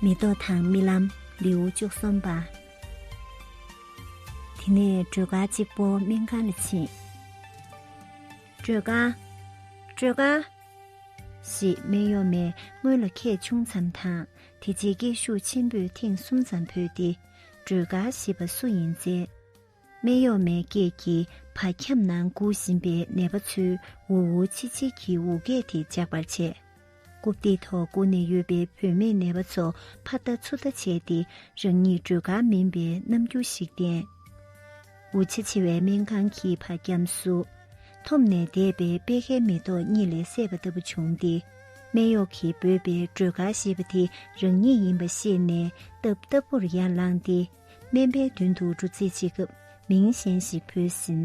མེ་ཏོག་དང་རྨི་ལམ་ལེའུ་བཅུ་གསུམ་པ། དེ་ནས་སྒྲོལ་དཀར་གཅིག་པོ་སྨན་ཁང་ལ་ཕྱིན། སྒྲོལ་དཀར། སྒྲོལ་དཀར། ཞེས་སྨན་གཡོག་མས་སྔོན་ལ་ཁད་ཆུང་ཙམ་དང་དེ་རྗེས་སྐད་ཤུགས་ཆེན་པོས་ཐེངས་གསུམ་ཙམ་བོས་ཏེ་སྒྲོལ་དཀར་ཞེས་པ་སུ་ཡིན་བཙལ། སྨད་གཡོགས་མའི་སྐད་ཀྱིས་བག་ཁྱམས་ནང་སྒུག་བཞིན་པའི་ནད་པ་ཚོའི་འུར་འུར་ཆིལ་ཆིལ་གྱི་འུར་སྐད་དེ་འཇགས་པར་བྱས། རྐུབ་སྟེགས་ཐོག་སྒུག་ནས་ཡོད་པའི་བུད་མེད་ནད་པ་ཚོ་ཕ་མཐའ་ཚུར་ལྟ་བྱས་ཏེ་རང་ཉིད་སྒྲོལ་དཀའ་མིན་པའི་རྣམ་འགྱུར་ཞིག་བསྟན། འུར་ཆེ་ཆེ་བའི་སྨན་ཁང་གི་བག་ཁྱམས་སུ། འཐོམ་ནས་བསྡད་པའི་པད་ཁའི་མེ་ཏོག་གཉིད་ལས་སད་པ་ལྟ་བུ་བྱུང་སྟེ། སྨད་གཡོགས་ཀྱིས་འབོད་པའི་སྒྲོལ་དཀར་ཞེས་པ་དེ་རང་ཉིད་ཡིན་པ་ཤེས་ནས་རྟབ་རྟབ་པོར་ཡར་ལངས་ཏེ། སྨན་པའི་མདུན་དུ་འབྲུ་ཚིག་གཅིག་གམ་མིང་གཞན་ཞིག་བོས་ཟིན།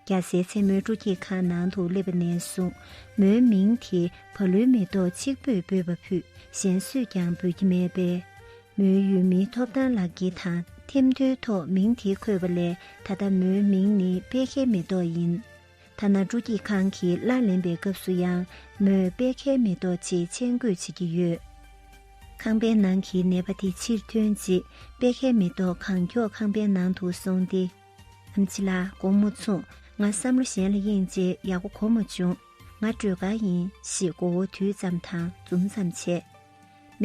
རྒྱ་བཟའི་མཚན་མོའི་སྤྲོ་སྐྱིད་ཁང་ནང་དུ་སླེབས་པ་ནས་བཟུང་མོའི་མིང་དེ་བ་ལུའི་མེ་ཏོག་གཅིག་པོས་འབོད་པ་ཕུད་གཞན་སུས་ཀྱང་འབོད་ཀྱི་མེད་པས། མོའི་ཡུལ་མི་ཐོབ་ཐང་ལག་འཁྱེར་དང་ཐེམ་ཐོའི་ཐོག་མིང་དེ་འཁོད་པ་ལས་ད་ལྟ་མོའི་མིང་ནི་དཔལ་ཁའི་མེ་ཏོག་ཡིན། ཐ་ན་དྲུག་སྐྱིད་ཁང་གི་ལར་ལེན་པའི་སྐབས་སུ་ཡང་མོས་དཔལ་ཁའི་མེ་ཏོག་ཅེས་མཆན་འགོད་བྱེད་ཀྱི་ཡོད། ཁང་པའི་ནང་གི་ནད་པ་དེ་ཕྱིར་ཐོན་རྗེས་དཔལ་ཁའི་མེ་ཏོག་གང་མགྱོགས་ཁང་པའི་ནང་དུ་སོང་སྟེ། ཨམ་ཆི་ལ་སྒོར་མོ་ཚུགས་ང་བསམ་བློ་གཞན་ལ་གཡེང་རྗེས་ཡག་པོ་གོ་མ་བྱུང། ང་སྤྲོད་དགའ་ཡིན་ཞེས་མགོ་བོ་དུད་ཙམ་དང་འཛུམ་ཙམ་བྱས།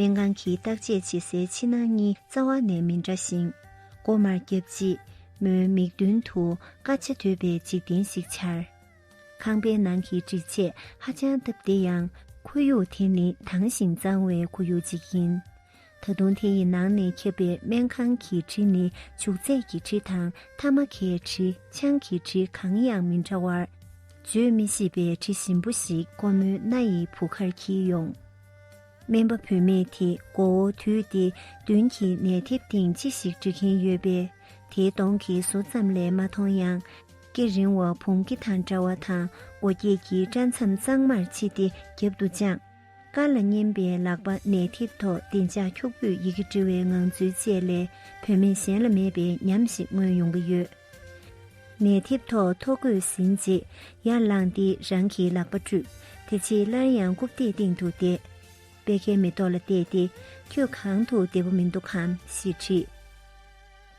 སྨན་ཁང་གི་བརྟག་དཔྱད་བྱེད་སའི་ཕྱི་ནང་གཉིས་རྩ་བ་ནས་མི་འདྲ་ཞིང། མགོ་མར་རྒྱབ་རྗེས་མོའི་མིག་མདུན་དུ་དཀའ་ཆེ་དོད་པའི་འཇིག་རྟེན་ཞིག་འཆར། ཁང་པའི་ནང་གི་སྒྲིག་ཆས་ཧ་ཅང་སྟབས་བདེ་ཡང། ཁོར་ཡུག་དེ་ནི་དྭངས་ཤིང་གཙང་བའི་ཁོར་ཡུག་ཅིག་ཡིན། ད་དུང་དེ་ཡི་ནང་ནས་ཁྱབ་པའི་སྨན་ཁང་གི་དྲི་ནི་བྱུག་རྫས་ཀྱི་དྲི་དང་ཐ་མ་ཁའི་དྲི་ཆང་གི་དྲི་གང་ཡང་མི་འདྲ་བར། བརྗོད་མི་ཤེས་པའི་དྲི་ཞིམ་པོ་ཞིག་ཁོ་མོའི་སྣ་ཡི་བུ་གར་འཁྱིལ་ཡོང། སྨན་པ་བུད་མེད་དེས་མགོ་བོ་དུད་དེ་མདུན་གྱི་ནད་ཐེབས་སྟེང་ཅི་ཞིག་འབྲི་གིན་ཡོད་པས་དེའི་གདོང་གི་ཟུར་ཙམ་ལས་མ་མཐོང་ཡང། སྐེ་རིང་བ་བུང་སྐེ་དང་འདྲ་བ་དང་མགོ་སྐྱེས་ཀྱི་སྐྲ་མཚམས་གཙང་མར་ཕྱེ་སྟེ་རྒྱབ་ཏུ་དཔྱངས། དཀར་ལ་མཉེན་པའི་ལག་པ་ནད་ཐེབས་ཐོག་བདེ་འཇགས་འཁྱུག་པོས་ཡི་གེ་འབྲི་བའི་ངང་ཚུལ་བཅས་ལས་བུད་མེད་གཞན་ལ་མེད་པའི་ཉམས་ཤིག་མངོན་ཡོང་གི་ཡོད། ནས་མཐེབ་ཐོག་ཐོག་བཀོད་ཟིན་རྗེས་ཡར་བླངས་ཏེ་རང་གི་ལག་པ་བཀྲུས། དེ་རྗེས་སླར་ཡང་རྐུབ་སྟེགས་སྟེང་དུ་བསྡད། པད་ཁའི་མེ་ཏོག་ལ་བལྟས་ཏེ་ཁྱོད་གང་དུ་བདེ་པོ་མི་འདུག་གམ་ཞེས་དྲིས།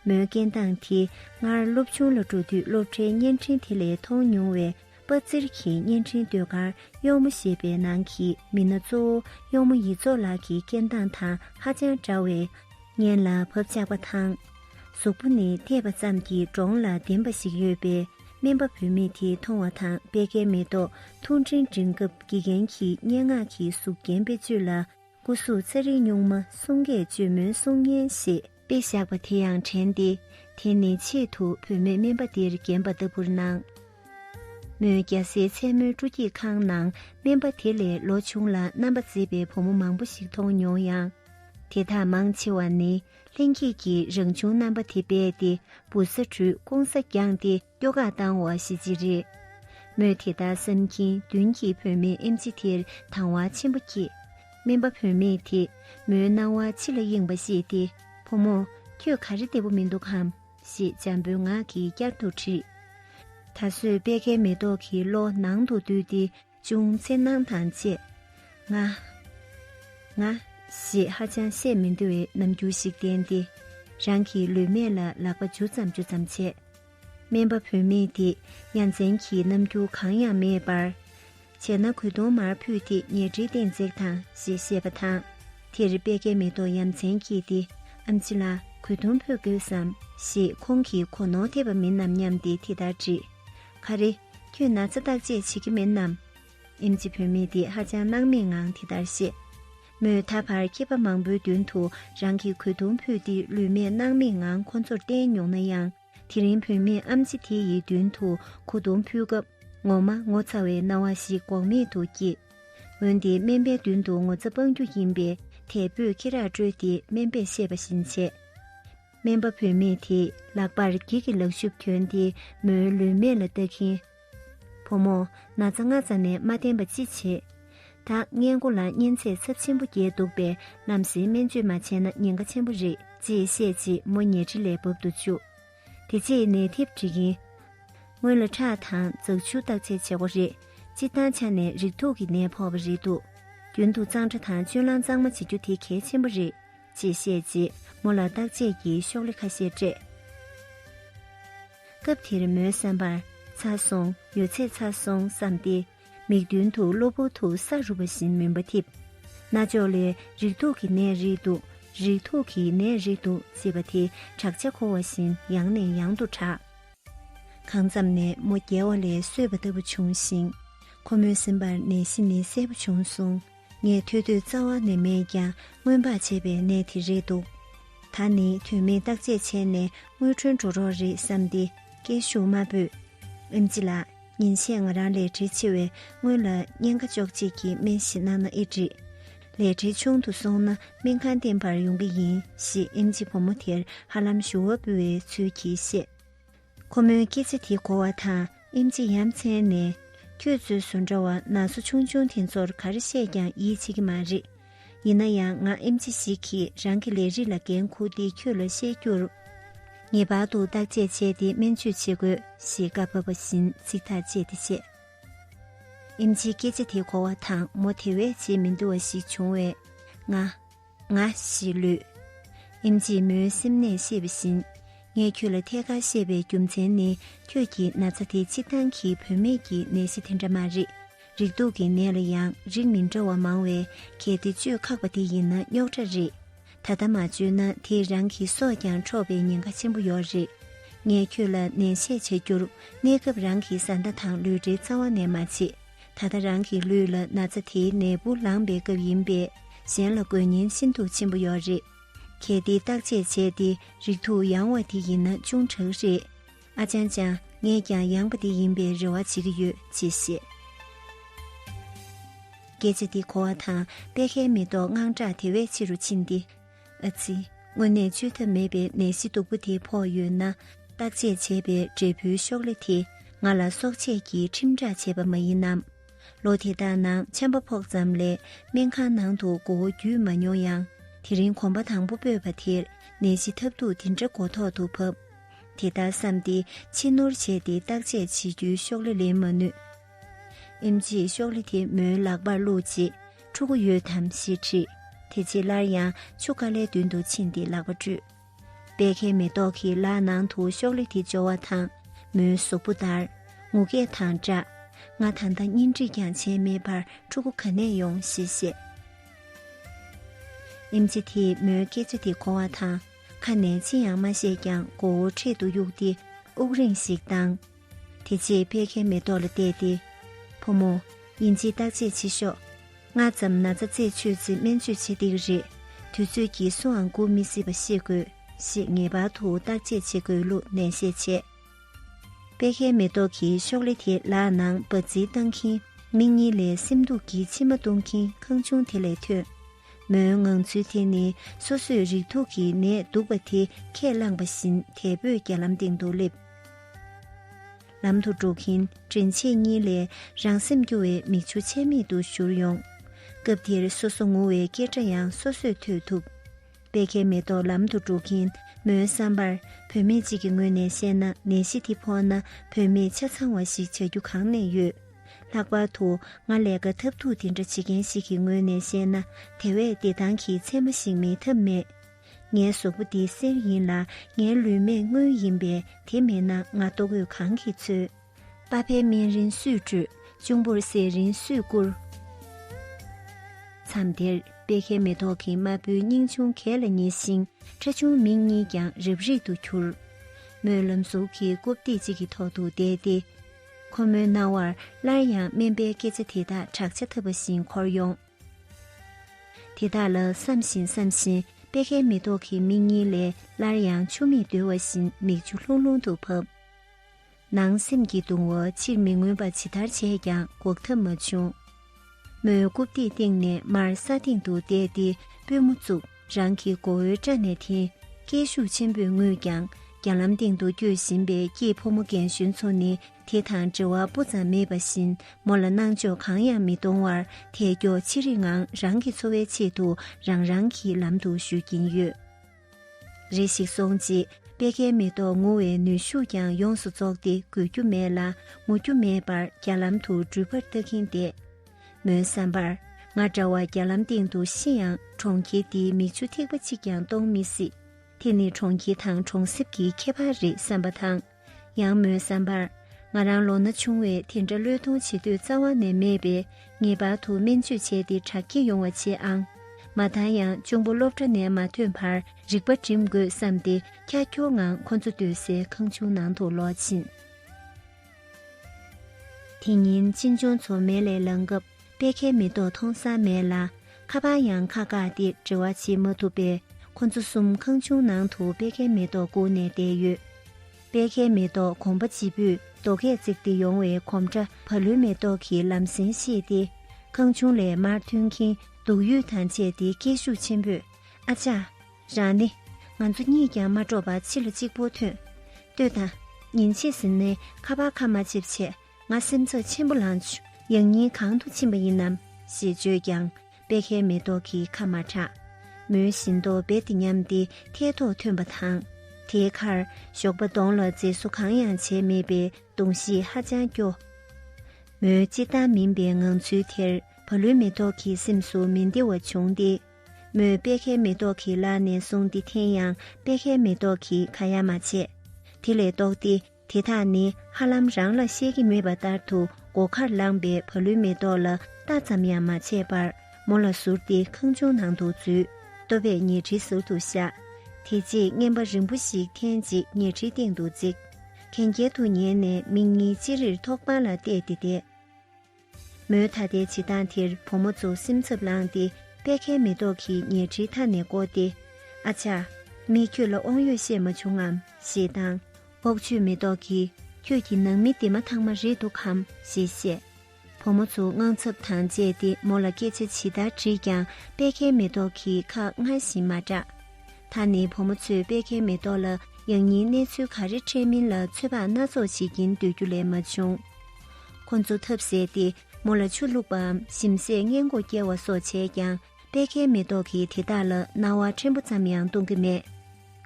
མོའི་སྐད་མདངས་དེ་སྔར་སློབ་ཆུང་ལ་འགྲོ་དུས་སློབ་གྲྭའི་བརྙན་འཕྲིན་དེ་ལས་མཐོང་མྱོང་བའི་པ་ཙིར་གྱི་བརྙན་འཕྲིན་ཟློས་གར་གཡོག་མོ་ཞེས་པའི་ནང་གི་མི་སྣ་གཙོ་བོ་གཡོག་མོ་ཡིད་རྫོགས་ལགས་ཀྱི་སྐད་མདངས་དང་ཧ་ཅང་འདྲ་བས་སྙན་ལ་བབ་ཆགས་པ་དང། གཟུགས་པོ་ནི་བལྟས་པ་ཙམ་གྱིས་འདྲོངས་ལ་ལྡེམ་པ་ཞིག་ཡོད་པས་སྨན་པ་བུད་མེད་དེ་མཐོང་བ་དང་དཔལ་ཁའི་མེ་ཏོག་ཐུང་འཕྲིན་སྒྲིག་སྐབས་དགེ་རྒན་གྱིས་སྙན་ངག་གི་གཟུགས་རྒྱན་བེད་སྤྱོད་ལ་སྐུ་གཟུགས་ཚེ་རིང་སྨྱུག་མ་གསུང་སྐད་བཅོས་མོན་སྲུང་སྙན་ཞེས། དཔེ་བཞག་པ་དེ་ཡང་དྲན་ཏེ་དེ་ནི་ཆེད་དུ་བུད་མེད་སྨན་པ་འདིར་བརྒྱན་པ་ལྟ་བུར་སྣང། མོའི་རྒྱ་སེའི་མཚན་མོའི་སྤྲོ་སྐྱིད་ཁང་ནང་སྨན་པ་དེ་ལས་ལོ་ཆུང་ལ་རྣམ་པ་མཛེས་པའི་བུ་མོ་མང་པོ་ཞིག་མཐོང་མྱོང་ཡང། དེ་དག་མང་ཆེ་བ་ནི་ལྷན་སྐྱེས་ཀྱི་རང་བྱུང་རྣམ་པ་དེ་རྦད་དེ་འབུ་ས་འབྲུས་སྐོང་ས་བརྒྱངས་ཏེ། སྐྱོ་གར་བཏང་བ་ཞིག་ཅི་རེད། མོས་དེ་ལྟར་བསམ་གྱིན་མདུན་གྱི་བུད་མེད་ཨེམ་ཆི་དེར་དང་བ་ཆེན་པོ་སྐྱེས། སྨན་པ་བུད་མེད་དེས་མོའི་སྣང་བ་ཕྱི་ལ་གཡེངས་པ་ཤེས་ཏེ་བུ་མོ། ཁྱོད་ག་རེ་བདེ་བོ་མི་འདུག་གམ། ཞེས་འཇམ་པོའི་ངག་གིས་བསྐྱར་དུ་དྲིས། ད་གཟོད་པད་ཁའི་མེ་ཏོག་གི་བློ་ནང་དུ་བསྡུས་ཏེ། ཅུང་འཚེར་སྣང་དང་བཅས་ང། ང། ཞེས་ཧ་ཅང་བཤད་མི་འདོད་པའི་རྣམ་འགྱུར་ཞིག་བསྟན་ཏེ་རང་གི་ལུས་སྨད་ལ་ལག་པ་འཇུ་ཙམ་འཇུ་ཙམ་བྱས། སྨན་པ་བུད་མེད་དེས་ཡ་མཚན་གྱི་རྣམ་འགྱུར་གང་ཡང་མེད་པར། བྱས་ན་གོས་དུང་མར་ཕུད་དེ་ཉལ་ཁྲིའི་སྟེང་འཛེགས་དང་ཞེས་བཤད་པ་དང། དེར་དཔལ་ཁའི་མེ་ཏོག་ཡ་མཚན་གྱིས་དེ་ཨམ་ཅི་ལ་གོས་དུང་ཕུད་དགོས་སམ་ཞེས་ཁོང་གིས་གོ་ནོར་ཐེབས་པ་མིན་ནམ་སྙམ་སྟེ་དེ་ལྟར་དྲིས། ག་རེ། ཁྱོད་ན་ཚ་བརྟག་དཔྱད་བྱེད་ཀྱི་མིན་ནམ། ཨིམ་ཅི་བུད་མེད་དེས་ཧ་ཅང་སྣང་མེད་ངང་དེ་ལྟར་བཤད། མོས་ད་བར་མཁས་པ་མང་པོའི་མདུན་དུ་རང་གི་གོས་ཐུང་ཕུད་དེ་ལུས་སྨད་སྣང་མེད་ངང་ཁོ་ཚོར་བསྟན་མྱོང་ན་ཡང། དེ་རིང་བུད་མེད་ཨམ་ཅི་དེ་ཡི་མདུན་དུ་གོ་ཐུང་ཕུད་སྐབས་ངོ་མ་ངོ་ཚ་བའི་སྣང་བ་ཞིག་འགོག་མེད་དུ་སྐྱེས། འོན་ཏེ་སྨན་པའི་མདུན་དུ་ངོ་ཚ་སྤང་རྒྱུ་ཡིན་པས་དལ་བུས་ཁེ་རག་དཀྲོལ་ཏེ་སྨན་པས་བཤད་པ་བཞིན་བྱས། སྨན་པ་བུད་མེད་དེས་ལག་པར་སྒྱིད་ཀྱི་ལག་ཤུབས་གྱོན་ཏེ་མོའི་ལུས་མེ་ལ་བཏགས་ཁིན། བུ་མོ། ན་ཚ་སྔ་ཙམ་ནས་མ་བསྟེན་པ་ཅི་བྱེད། ད་སྔས་མགོ་ལ་གཉན་ཚད་ཚབས་ཆེན་པོ་རྒྱས་འདུག་པས་ནམ་ཞིག་སྨན་བཅོས་མ་བྱས་ན་ཉེན་ཁ་ཆེན་པོ་རེད་ཅེས་བཤད་རྗེས་མོ་ཉལ་ཁྲི་ལས་བབ་ཏུ་བཅུག། དེ་རྗེས་ནད་ཐེབས་འདྲི་ཁིན། སྔོན་ལ་ཁྲག་དང་རྫག་ཆུ་བརྟག་དཔྱད་བྱས་གོ་རེད། སྤྱིར་བཏང་ཆ་ནས་རིགས་དུག་གི་ནད་ཕོག་པ་རེད་འདུག་རྒྱུན་དུ་གཙང་སྦྲ་དང་སྤྱོད་ལམ་གཙང་མ་བྱེད་རྒྱུ་དེ་གལ་ཆེན་པོ་རེད། ཅེས་བཤད་རྗེས་མོ་ལ་བརྟག་དཔྱད་ཀྱི་ཤོག་ལྷེ་ཁ་ཤས་སྤྲད། སྐབས་དེར་མོའི་བསམ་པར་ཚར་སོང་ཡོད་ཚད་ཚར་སོང་བསམ་སྟེ་མིག་མདུན་དུ་གློ་བུར་དུ་ས་རུབ་པ་བཞིན་མུན་པ་འཐིབས། རྣ་ཅོག་ལས་རིགས་དྲུག་གི་ནད་རིགས་འདུག་རིགས་དྲུག་གི་ནད་རིགས་འདུག་ཅེས་པ་དེ་བྲག་ཆ་འཁོར་བ་བཞིན་ཡང་ནས་ཡང་དུ་གྲགས། གང་ཙམ་ནས་མོ་བརྒྱལ་བ་ལས་སོས་པ་ལྟ་བུ་བྱུང་ཞིང། ཁོ་མོའི་སེམས་པར་ནད་གཞི་ནི་གསལ་པོ་བྱུང་སོང། ངས་ཐོས་དུས་རྩ་བ་ནས་མེད་ཀྱང་སྔོན་དཔག་བྱས་པའི་གནས་དེ་རེད་འདུག་ད་ནི་དོན་མེད་བརྟག་དཔྱད་བྱས་ནས་དངུལ་ཁྲོལ་འགྲོ་རོགས་རེད་བསམ་སྟེ་སྐད་ཤུགས་དམའ་བོས། ཨེམ་ཅི་ལགས་ཉིན་ཤས་ང་རང་ལས་བྲེལ་ཆེ་བས་སྔོན་ལ་བརྙན་ཁ་ཅོག་ཅིག་གི་སྨན་ཞིག་གནང་ན་ཨེ་འགྲིག། ལས་བྲེལ་ཆུང་དུ་སོང་ན་སྨན་ཁང་བསྟན་པར་ཡོང་གི་ཡིན་ཞེས་ཨེམ་ཅི་བུ་མོ་དེར་ཧ་ལམ་ཞུ་བ་འབུལ་བའི་ཚུལ་གྱིས་བཤད། ཁོ་མོའི་སྐེ་ཚེ་དེ་གོ་བ་དང་ཨིམ་ཆི་ཡ་མཚན་ནས། ཁྱོད་ཚོའི་བཟོ་འདྲ་བ་ན་ཚོ་ཆུང་ཆུང་དེ་ཚོར་ག་རེ་བཤད་ཀྱང་ཡིད་ཆེས་ཀྱི་མ་རེད། ཡིན་ན་ཡང་ང་ཨིམ་ཆི་ཞིག་གིས་རང་གི་ལས་རིགས་ལ་འགན་འཁུར་ཏེ་ཁྱོད་ལ་བཤད་རྒྱུར། ངེས་པར་དུ་བརྟག་དཔྱད་བྱས་ཏེ་སྨན་བཅོས་བྱེད་དགོས་ཞེས་བཀའ་ཕབ་པ་བཞིན་ཚིག་ཐག་བཅད་དེ་བཤད། ཨིམ་ཆིའི་སྐེ་ཚེ་དེ་གོ་བ་དང་མོ་དེ་བས་བྱེད་མི་འདོད་བ་ཞིག་བྱུང་བས། ང། ང་ཞེས་ལུས། ཨིན་ཇིས་མོའི་སེམས་ནས་བཤད་པ་བཞིན། ངས་ཁྱོད་ལ་ཐད་ཀར་བཤད་པའི་རྒྱུ་མཚན་ནི་ཁྱོད་ཀྱི་ན་ཚ་དེ་ཆིག་ཐང་གི་བུད་མེད་ཀྱི་ནད་གཞི་དེ་འདྲ་མ་རེད། རིགས་དུག་གི་ནད་ལ་ཡང་རིགས་མི་འདྲ་བ་མང་བས་གལ་ཏེ་བཅོས་ཁག་པ་དེ་ཡིན་ན་རྙོག་དྲ་རེད། ད་ལྟ་མ་བཅོས་ན་དེས་རང་གི་སྲོག་ཀྱང་འཕྲོག་པའི་ཉེན་ཁ་ཆེན་པོ་ཡོད་རེད། ངས་ཁྱོད་ལ་ནན་བཤད་བྱ་རྒྱུར་གནས་སྐབས་རང་གི་བཟའ་ཟླ་དང་ལུས་འབྲེལ་རྩ་བ་ནས་མ་བྱེད། ད་ལྟ་རང་གི་ལུས་ལ་ན་ཚ་དེའི་ནད་འབུ་ལངས་པའི་སྐབས་ཡིན་པས་གཞན་ལ་དགོས་ཉེན་ཤིན་ཏུ་ཆེན་པོ་ཡོད་རེད། གལ་ཏེ་བརྟག་དཔྱད་བྱས་ཏེ་རིགས་ཐུགས་ཡང་བ་དེ་ཡིན་ན་ཅུང་དྲག་རེད། ཨ་ཅང་ཅང་ངས་ཀྱང་ཡང་བ་དེ་ཡིན་པའི་རེ་བ་བྱེད་ཀྱི་ཡོད་ཅེས་བཤད། སྐད་ཆ་འདི་གོ་བ་དང་དཔེ་ཁའི་མེ་ཏོག་དངངས་སྐྲག་དེ་བས་ཆེ་རུ་ཕྱིན་ཏེ་ཨ་ཙི། དངོས་གནས་བཅོས་ཐབས་མེད་པའི་ནད་གཞི་སྡུག་པོ་དེ་ཕོག་ཡོད་ན། བརྟག་དཔྱད་བྱས་པའི་འབྲས་བུའི་ཤོག་ལྷེ་དེ་ང་ལ་གསོག་ཆས་ཀྱིས་ཁྲིམས་བསྒྲགས་བྱས་པ་མ་ཡིན་ནམ། ལོ་དེ་དག་ནང་ཆམ་པ་ཕོག་ཙམ་ལས་སྨན་ཁང་ནང་དུ་མགོ་བོ་བརྒྱུས་མ་མྱོང་ཡང་དེ་རིང་གོམ་པ་དང་པོ་སྤོས་པ་དེར་ནད་གཞི་ཐབས་སྡུག་དེ་འདྲ་མགོ་ཐོག་ཏུ་བབས། དེ་ལྟར་བསམས་ཏེ་ཕྱི་ནུར་བྱས་ཏེ་བརྟག་དཔྱད་བྱེད་རྒྱུའི་ཤོག་ལྷེ་ལེན་མ་ནུས། ཨིམ་ཅིའི་གཤོག་ལི་དེ་མོའི་ལག་པར་བླུགས་རྗེས་ཕྲུ་གུ་ཡོད་དམ་ཞེས་དྲིས། དེ་རྗེས་སླར་ཡང་ཆུ་ཀ་ལའི་མདུན་དུ་ཕྱིན་ཏེ་ལག་པ་བཀྲུས། པད་ཁའི་མེ་ཏོག་གི་ལག་ནང་དུ་གཤོག་ལི་དེ་འབྱོར་བ་དང་མོའི་གཟུགས་པོ་འདར། ངུ་སྐད་དང་སྦྲགས། ང་ད་ལྟ་གཉེན་སྒྲིག་ཀྱང་བྱས་མེད་པར་ཕྲུ་གུ་ག་ནས་ཡོང་ཞེས་བཤད། ཨིམ་ཅི་དེས་མོའི་སྐད་ཆ་དེ་གོ་བ་དང་ཁ་ནས་ཅི་ཡང་མ་བཤད་ཀྱང་མགོ་བོ་འཕྲེད་དུ་གཡུགས་ཏེ་དབུགས་རིང་ཞིག་བཏང། དེ་རྗེས་བད་ཀན་མེ་ཏོག་ལ་བལྟས་ཏེ། བུ་མོ། དབྱིན་ཇིའི་བརྟག་དཔྱད་བྱེད་ཤོག། སྔ་ཙམ་ན་ཚ་ཚེགས་ཆོད་ཚེ་སྨན་བཅོས་བྱེད་བདེ་གི་རེད། དུས་ཚོད་ཀྱིས་སུའང་སྒུག་མི་སྲིད་པ་ཤེས་དགོས་ཞེས་ངེས་པར་དུ་བརྟག་དཔྱད་བྱེད་དགོས་ལུགས་ནན་བཤད་བྱས། བད་ཀན་མེ་ཏོག་གི་ཤོག་ལེ་དེ་ལག་ནང་འབར་རྫིས་བཏང་གིན་མིག་གཉིས་ལས་སེམས་སྡུག་གིས་མཆི་མ་བཏུང་གིན་ཁང་ཆུང་དེ་ལས་ཐོན། མོའི་ངང་ཚུལ་དེ་ནི་སོ་སོས་རིགས་དྲུག་གི་ནད་འདུག་པ་དེ་ཁས་བླངས་པ་བཞིན་དལ་བུས་རྒྱ་ལམ་སྟེང་དུ་སླེབས། ལམ་དུ་འགྲོ་གིན་དྲིན་ཆེན་གཉིས་ལས་རང་སེམས་སྐྱོ་བའི་མིག་ཆུ་ཆད་མེད་དུ་བཞུར་ཡོང། སྐབས་དེར་སོ་སོ་ངུ་བའི་སྐད་སྒྲ་ཡང་སོ་སོས་ཐོས་ཐུབ། པད་ཁའི་མེ་ཏོག་ལམ་དུ་འགྲོ་གིན་མོའི་བསམ་པར་བུད་མེད་ཅིག་གི་ངོས་ནས་བཤད་ན་ནད་གཞི་དེ་ཕོག་ན་བུད་མེད་ཆ་ཚང་བ་ཞིག་བྱ་རྒྱུ་གང་ནས་ཡོད། ལྷག་པར་དུ་ང་ལས་ཀ་ཐབས་སྡུག་དེ་འདྲ་བྱེད་མཁན་ཞིག་གི་ངོས་ནས་བཤད་ན་དེ་བས་བདེ་ཐང་གི་མཚན་མ་ཞིག་མེད་ཐབས་མེད། ངའི་གཟུགས་པོ་འདི་གསེར་ཡིན་ལ་ངའི་ལུས་མེད་དངུལ་ཡིན་པས་དེ་མེད་ན་ང་ལྟོ་གོས་གང་གིས་འཚོལ། པ་ཕས་སྨན་རིན་སུས་སྤྲོད། གཅུང་པོར་ཟས་རིན་སུས་བསྐུར། མཚམས་དེར་པད་ཁའི་མེ་ཏོག་གི་མ་བུའི་སྙིང་ཅུང་གས་ལ་ཉེ་ཞིང་ཁྲ་ཆུང་མིག་གཉིས་ཀྱང་རིབ་རིབ་ཏུ་གྱུར། སྨོན་ལམ་གཟུགས་ཀྱི་རྐུབ་སྟེགས་གཅིག་གི་ཐོག་ཏུ་བསྡད་དེ། ཁོ་མོའི་རྣ་བར་སླར་ཡང་སྨན་པའི་སྐད་ཆ་དེ་དག་བྲག་ཆ་འཐབ་པ་བཞིན་འཁོར་ཡོང། དེ་དག་ལ་བསམ་བཞིན་བསམ་བཞིན་པད་ཁའི་མེ་ཏོག་གི་མིག་གཉིས་ལས་སླར་ཡང་ཆུ་མིག་བརྡོལ་བ་བཞིན་མིག་ཆུ་ལྷུང་ལྷུང་དུ་བབས། ནང་སེམས་ཀྱི་གདུང་བ་ཕྱིར་མི་མངོན་པ་ཇི་ལྟར་བྱས་ཀྱང་འགོག་ཐབས་མ་བྱུང། མོས་རྐུབ་སྟེགས་སྟེང་ནས་མར་ས་སྟེང་དུ་བསྡད་དེ་པུས་མོ་བཙུགས་རང་གི་མགོ་བོའི་སྐྲ་ནས་ཐིང་སྐད་ཤུགས་ཆེན་པོས་ངུས་ཀྱང་རྒྱ་ལམ་སྟེང་དུ་སྐྱོད་བཞིན་པའི་སྐྱིད་ཕོ་མོ་རྒན་གཞོན་ཚོ་ནི་དེ་དང་འབྲེལ་བ་སྤུ་ཙམ་མེད་པ་བཞིན་མོ་ལ་སྣང་འཇོག་གང་ཡང་མི་གཏོང་བར་ཐལ་སྐྱོ་ཆེ་རིགས་ངང་རང་གི་འཚོ་བའི་ཆེད་དུ་རང་རང་གི་ལམ་དུ་བཞུད་ཀྱིན་ཡོད། རེ་ཞིག་སོང་རྗེས་པད་ཁའི་མེ་ཏོག་ངུ་བའི་ནུས་ཤུགས་ཀྱང་ཡོངས་སུ་རྫོགས་ཏེ་འགུལ་རྒྱུ་མེད་ལ་ངུ་རྒྱུ་མེད་པར་རྒྱ་ལམ་དུ་འགྲུལ་པར་ལྟ་གིན་བསྡད། མོའི་བསམ་པར་ང་འདྲ་བ་རྒྱ་ལམ་སྟེང་དུ་ཤི་ཡང་གྲོང་ཁྱེར་འདིའི་མིག་ཆུ་ཐིགས་པ་གཅིག་ཀྱང་གཏོང་མི་སྲིད། དེ་ནི་གྲོང་ཁྱེར་དང་གྲོང་གསེབ་ཀྱི་ཁྱད་པར་རེད་བསམ་པ་དང། ཡང་མོའི་བསམ་པར་ང་རང་ལོ་ན་ཆུང་བས་དེ་འདྲ་བློས་གཏོང་བྱེད་དུས་རྩ་བ་ནས་མེད་པས་ངེས་པར་དུ་སྨན་བཅོས་བྱས་ཏེ་དྲག་སྐྱེད་ཡོང་བ་བྱེད་ཨང། མ་མཐའ་ཡང་གཅུང་པོ་སློབ་གྲྭ་ནས་མ་ཐོན་བར་རིག་པ་སྒྲིམ་དགོས་བསམ་སྟེ་ཀྱ་ཀྱོ་ངང་ཁོ་ཚོ་སྡོད་སའི་ཁང་ཆུང་ནང་དུ་ལོག་ཕྱིན། དེ་ཉིན་གཅེན་གཅུང་ཚོ་མལ་ལས་ལངས་སྐབས། པད་ཁའི་མེ་ཏོག་མཐོང་ས་མེད་ལ། ཁ་པར་ཡང་ཁ་བཀག་སྟེ་འབྲེལ་བ་བྱེད་མ་ཐུབ་པས་ཁོ་ཚོ་གསུམ་ཁང་ཆུང་ནང་དུ་པད་ཁའི་མེ་ཏོག་བསྐུར་ནས་བསྡད་ཡོད། པད་ཁའི་མེ་ཏོག་གོམ་པ་བྱིས་པོས་རྡོ་སྐས་བརྩེགས་ཏེ་ཡོང་བའི་གོམ་སྒྲ་བར་ལུས་མེ་ཏོག་གི་ལམ་སེང་ཤེས་ཏེ། ཁང་ཆུང་ལས་མར་མཐུན་མཁན་སྡུག་ཡུས་དང་བཅས་ཏེ་སྐད་ཤུགས་ཆེན་པོས་ཨ་ཅག། རང་ནི། ང་ཚོ་གཉིས་ཀྱང་མ་འགྲོགས་པར་ཕྱི་ལ་གཅིག་པོ་ཐོན། ལྟོས་དང། ཉིན་ཕྱེད་ཟིན་ནས་ཁ་པར་ཁ་མ་འབྱེད་ཆེད་ང་སེམས་ཚོར་ཆེན་པོ་ལངས། ཡང་སྙིང་གང་དུ་ཕྱིན་པ་ཡིན་ནམ། ཞེས་བརྗོད་ཀྱང་པད་ཁའི་མེ་ཏོག་གི་ཁ་མ་གྲགས། མོའི་བཞིན་མདོག་རྦད་དེ་ཉམས་ཏེ་ཐལ་ཐོག་ཐོན་པ་དང། དེའི་ཁར་ཞོགས་པ་གདོང་ལ་མཛེས་བཟོ་གང་ཡང་བྱས་མེད་པའི་གདོང་གཤིས་ཧ་ཅང་སྐྱོ། མོའི་གཅིག་བདག་མིན་པའི་ངང་ཚུལ་དེར་བ་ལུའི་མེ་ཏོག་གི་སེམས་སུ་མི་བདེ་བ་བྱུང་སྟེ། མོས་པད་ཁའི་མེ་ཏོག་གི་ལག་ནས་བཟུང་སྟེ་འཐེན་ཡང་པད་ཁའི་མེ་ཏོག་གིས་ཁ་ཡ་མ་བྱས། དེ་ལས་ལྡོག་སྟེ་དེ་དག་ནི་ཧ་ལམ་རང་ལ་ཤེས་ཀྱི་མེད་པ་ལྟར་དུ་སྒོ་ཁར་ལངས་པའི་བ་ལུའི་མེ་ཏོག་ལ་ལྟ་ཙམ་ཡང་མ་བྱས་པར་མོ་ལ་ཟུར་ཏེ་ཁང་ཆུང་ནང་དུ་འཛུལ། ལྟོ་བས་ཉལ་ཁྲིའི་ཟུར་དུ་བཞག། དེ་རྗེས་རྔན་པ་རིང་པོ་ཞིག་ཐེངས་གཅིག་ཉལ་ཁྲིའི་སྟེང་དུ་བརྩིགས། གན་རྐྱལ་དུ་ཉལ་ནས་མིག་གཉིས་ཅི་རིར་ཐོག་པང་ལ་གཏད་དེ་བསྡད། མོའི་ད་ལྟའི་བྱེད་སྟངས་དེར་བུ་མོ་ཚོ་སེམས་འཚབ་ལངས་ཏེ་པད་ཁའི་མེ་ཏོག་གིས་ཉལ་ཁྲིའི་མཐའ་ནས་བསྐོར་ཏེ། ཨ་ཅག། མིས་ཁྱོད་ལ་དབང་ཡོད་བཤད་མ་བྱུང་ངམ། ཞེས་དང། ཨོག་ཆོས་མེ་ཏོག་གིས་ཁྱོད་ཀྱི་ནང་མི་དེ་མ་ཐག་མ་རེད་འདུག་གམ་ཞེས་བཤད། བུ་མོ་ཚོ་དངངས་འཚབ་དང་བཅས་ཏེ་མོ་ལ་སྐད་ཆ་ཇི་ལྟར་དྲིས་ཀྱང་པད་ཁའི་མེ་ཏོག་གིས་ཁ་སྔར་བཞིན་མ་གྲགས། ད་ནི་བུ་མོ་ཚོས་པད་ཁའི་མེ་ཏོག་ལ་ཡང་སྙིང་གནས་ཚུལ་ག་རེ་འཕྲད་མིན་ལ་ཚོད་དཔག་སྣ་ཚོགས་བྱེད་ཀྱིན་སྡོད་རྒྱུ་ལས་མ་བྱུང། ཁོ་ཚོ་ཐབས་ཟད་དེ་མོ་ལ་ཆུ་བླུགས་པའམ་ཞིམ་ཟས་མངལ་སྒོ་བསྐྱལ་བ་སོགས་བྱས་ཀྱང་པད་ཁའི་མེ་ཏོག་གིས་དེ་དག་ལ་སྣང་བ་ཕྲན་བུ་ཙམ་ཡང་གཏོང་གི་མེད།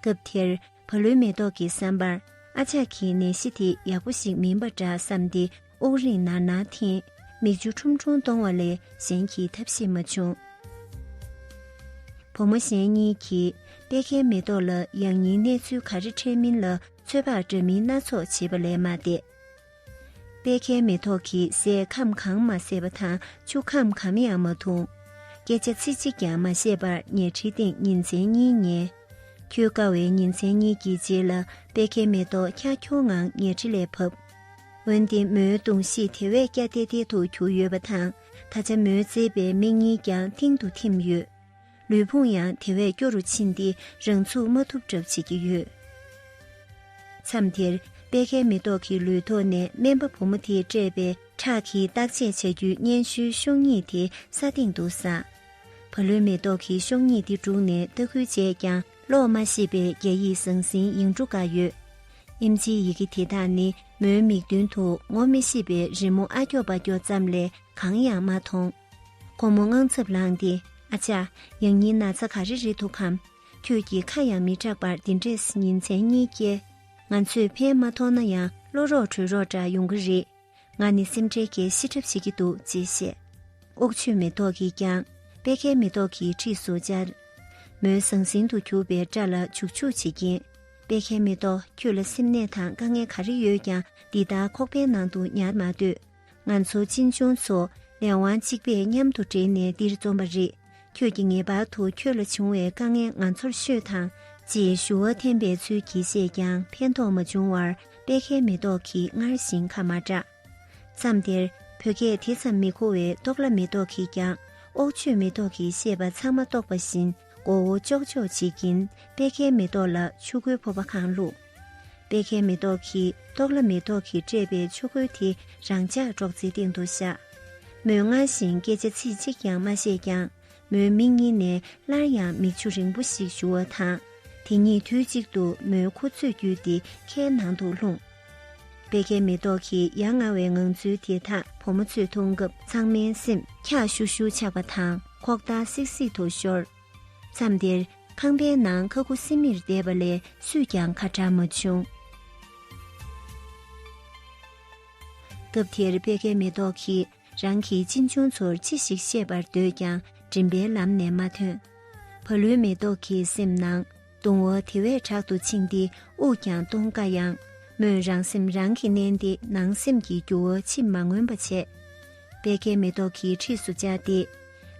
སྐབས་དེར་བ་ལུའི་མེ་ཏོག་གིས་བསམ་པར་ཨ་ཅག་གི་ནད་གཞི་དེ་ཡག་པོ་ཞིག་མིན་པ་འདྲ་བསམས་ཏེ་དབུགས་རིང་ནར་ནར་འཐེན། མིག་ཆུ་ཁྲུམ་ཁྲུམ་གཏོང་བ་ལས་གཞན་གྱི་ཐབས་ཤེས་མ་བྱུང། བུ་མོ་གཞན་གཉིས་ཀྱིས་པད་ཁའི་མེ་ཏོག་ལ་ཡང་སྙིང་གནས་ཚུལ་ག་རེ་འཕྲད་མིན་ལ་ཚོད་དཔག་འདྲ་མིན་སྣ་ཚོགས་བྱེད་པ་ལས་མ་འདས། དཔལ་ཁའི་མེ་ཏོག་གིས་སའི་ཁམས་གང་མ་བསྲེགས་པ་དང་ཆུ་ཁམས་གམ་ཡང་མ་འཐུང། སྐད་ཆ་ཚིག་གཅིག་ཀྱང་མ་བཤད་པར་ཉལ་ཁྲིའི་སྟེང་ཉིན་མཚན་གཉིས་ཉལ། འཁྱུད་དཀའ་བའི་ཉིན་མཚན་གཉིས་ཀྱི་རྗེས་ལ་དཔལ་ཁའི་མེ་ཏོག་ཁྱ་ཁྱོ་ངང་ཉལ་ཁྲི་ལས་བབས། འོན་ཏེ་མོའི་གདུང་གཤིས་དེ་བས་སྐྱ་ཐེ་ཐེ་དུ་གྱུར་ཡོད་པ་དང་ད་ཆ་མོའི་གཙེས་པའི་མིག་གཉིས་ཀྱང་མཐིང་དུ་འཐིམས་ཡོད། ལུས་ཕུང་ཡང་དེ་བས་སྐྱོ་རུ་ཕྱིན་ཏེ་རང་ཚུགས་མ་ཐུབ་གྲབས་བྱེད་ཀྱི་ཡོད། མཚམས་དེར་དཔལ་ཁའི་མེ་ཏོག་གི་ལུས་ཐོག་ནས་སྨན་པ་བུ་མོ་དེས་སྤྲད་པའི་ཁྲག་གིས་བརྟག་དཔྱད་བྱ་རྒྱུའི་སྙན་ཞུའི་ཤོག་སྙིགས་དེ་ས་སྟེང་དུ་བསགས། བ་ལོའི་མེ་ཏོག་གིས་ཤོག་སྙིགས་དེ་བསྒྲུགས་ནས་ལྟ་སྐུལ་བྱས་ཀྱང་ཀློག་མ་ཤེས་པའི་རྒྱ་ཡིག་ཟང་ཟིང་ཡིག་འབྲུ་འགའ་ཡོད། ཨིམ་ཆིའི་ཡི་གེ་དེ་དག་ནི་མོའི་མིག་མདུན་དུ་ངོ་མི་ཤེས་པའི་རི་མོ་ཨ་སྐྱོ་པ་སྐྱོ་ཙམ་ལས་གང་ཡང་མ་མཐོང། ཁོ་མོ་དངངས་འཚབ་ལངས་ཏེ་ཨ་ཅག་ཡང་ཉིན་ན་ཚ་ག་རེ་རེད་འདུག་གམ། ཁྱོད་ཀྱིས་ཁ་ཡང་མི་གྲགས་པར་འདི་འདྲས་ཉིན་མཚན་གཉིས་བསྐྱལ། ང་ཚོས་ཕན་མ་ཐོགས་ན་ཡང་བློ་རོགས་གྲོས་རོགས་འདྲ་ཡོང་གི་རེད། ང་ནི་སེམས་ཁྲལ་གྱིས་ཤི་གྲབས་བྱེད་ཀྱི་འདུག་ཅེས་བཤད། ཨོག་ཆོས་མེ་ཏོག་གིས་ཀྱང་པད་ཁའི་མེ་ཏོག་གི་འཁྲིས་སུ་བཅར། མོའི་ཟང་ཟིང་དུ་གྱུར་པའི་སྐྲ་ལ་བྱུག་བྱུག་བྱེད་ཀྱིན། པད་ཁའི་མེ་ཏོག་ཁྱོད་ལ་སེམས་ནད་དང་དཀའ་ངལ་ག་རེ་ཡོད་ཀྱང་འདི་ལྟར་ཁོག་པའི་ནང་དུ་ཉར་མ་སྡོད། ང་ཚོ་གཅེན་གཅུང་ཚོ་ལས་དབང་གཅིག་པས་མཉམ་དུ་འབྲེལ་ནས་འདིར་འཛོམས་པ་རེད། ཁྱོད་ཀྱིས་ངེས་པར་དུ་ཁྱོད་ལ་བྱུང་བའི་དཀའ་ངལ་ང་ཚོར་ཤོད་དང། ཅེས་ཞུ་བ་འཐེན་པའི་ཚུལ་གྱིས་བཤད་ཀྱང་ཕན་ཐོགས་མ་བྱུང་བར་དཔལ་ཁའི་མེ་ཏོག་གིས་སྔར་བཞིན་ཁ་མ་གྲགས། མཚམས་དེར་བོད་སྐད་དེ་ཙམ་མི་གོ་བའི་ཏོག་ལྭ་མེ་ཏོག་གིས་ཀྱང་ཨོག་ཆོས་མེ་ཏོག་གི་བཤད་པ་ཚང་མ་རྟོགས་པ་བཞིན་མགོ་བོ་ཅོག་ཅོག་བྱེད་ཀྱིན་དཔལ་ཁའི་མེ་ཏོག་ལ་ཆུ་ཁོལ་ཕོར་པ་གང་བླུགས། པད་ཁའི་མེ་ཏོག་གིས་རྟོགས་ལ་མེ་ཏོག་གིས་སྤྲས་པའི་ཆུ་ཁོལ་དེ་རང་ཅག་སྒྲོག་ཙེའི་སྟེང་དུ་བཞག། མོས་སྔར་བཞིན་སྐད་ཆ་ཚིག་གཅིག་ཀྱང་མ་བཤད་ཀྱང་མོའི་མིག་གཉིས་ནས་སླར་ཡང་མིག་ཆུ་རིང་པོ་ཞིག་བཞུར་བ་དང། དེ་གཉིས་དུས་གཅིག་ཏུ་མོའི་ཁུ་ཚུར་བརྒྱུད་དེ་ཁའི་ནང་དུ་ལྷུང། པད་ཁའི་མེ་ཏོག་གི་ཡ་ང་བའི་ངང་ཚུལ་དེ་དག་བུ་མོ་ཚོས་མཐོང་སྐབས་ཚང་མའི་སེམས་འཁྱག་ཤུར་ཤུར་ཆགས་པ་དང་ཁོག་འདར་སིག་སིག་ཏུ་ཤོར། མཚམས་དེར་ཁང་པའི་ནང་ཁ་ཁུ་སིམ་མེར་བསྡད་པ་ལས་སུས་ཀྱང་ཁ་གྲགས་མ་བྱུང། སྐབས་དེར་པད་ཁའི་མེ་ཏོག་གིས་རང་གི་གཅེན་གཅུང་ཚོར་ཅི་ཞིག་བཤད་པར་འདོད་ཀྱང་མགྲིན་པའི་ལམ་ནས་མ་ཐོན། བ་ལུའི་མེ་ཏོག་གི་སེམས་ནང། གདུང་བ་དེ་བས་དྲག་ཏུ་འཆིང་སྟེ་དབུགས་ཀྱང་གཏོང་དཀའ་ཡང། མོས་རང་སེམས་རང་གིས་མནན་ཏེ་ནང་སེམས་ཀྱི་འགྱུ་བ་ཕྱིར་མ་མངོན་པ་བྱས། པད་ཁའི་མེ་ཏོག་གི་འཁྲིས་སུ་བཅར་ཏེ།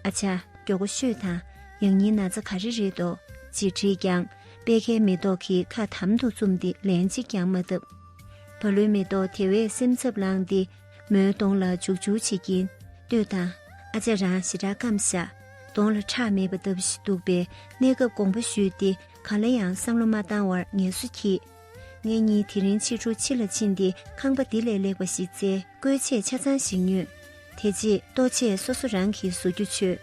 ཨ་ཆ། མགྱོགས་པོ་ཤོད་དང། ཡང་སྙིང་ན་ཚ་ག་རེ་རེད་དོ། ཅེས་དྲིས་ཀྱང། པད་ཁའི་མེ་ཏོག་གིས་ཁ་དམ་དུ་བཙུམས་ཏེ་ལན་གཅིག་ཀྱང་མ་བཏབ། བ་ལུའི་མེ་ཏོག་དེ་བས་སེམས་འཚབ་ལངས་ཏེ། མོའི་གདོང་ལ་འཇུག་འཇུག་བྱེད་ཀྱིན་ལྟོས་དང། ཨ་ཅག་རང་ཞེ་དྲག་སྐམ་བཞག་གདོང་ལ་ཁྲག་མེད་པ་ལྟ་བུ་ཞིག་འདུག་པས་གནས་སྐབས་དགོངས་པ་ཞུས་ཏེ་གང་ལ་ཡང་བསམ་བློ་མ་བཏང་བར་ངལ་གསོ་གྱིས། ངེད་གཉིས་དེ་རིང་ཕྱི་དྲོ་ཕྱི་ལ་ཕྱིན་ཏེ་ཁང་པ་འདི་ལས་ལེགས་པ་ཞིག་བཙལ་བཀོལ་ཆས་ཆ་ཚང་ཞིག་ཉོས། དེ་རྗེས་ལྟོ་ཆས་སོ་སོ་རང་གིས་བཟོ་རྒྱུ་བྱོས།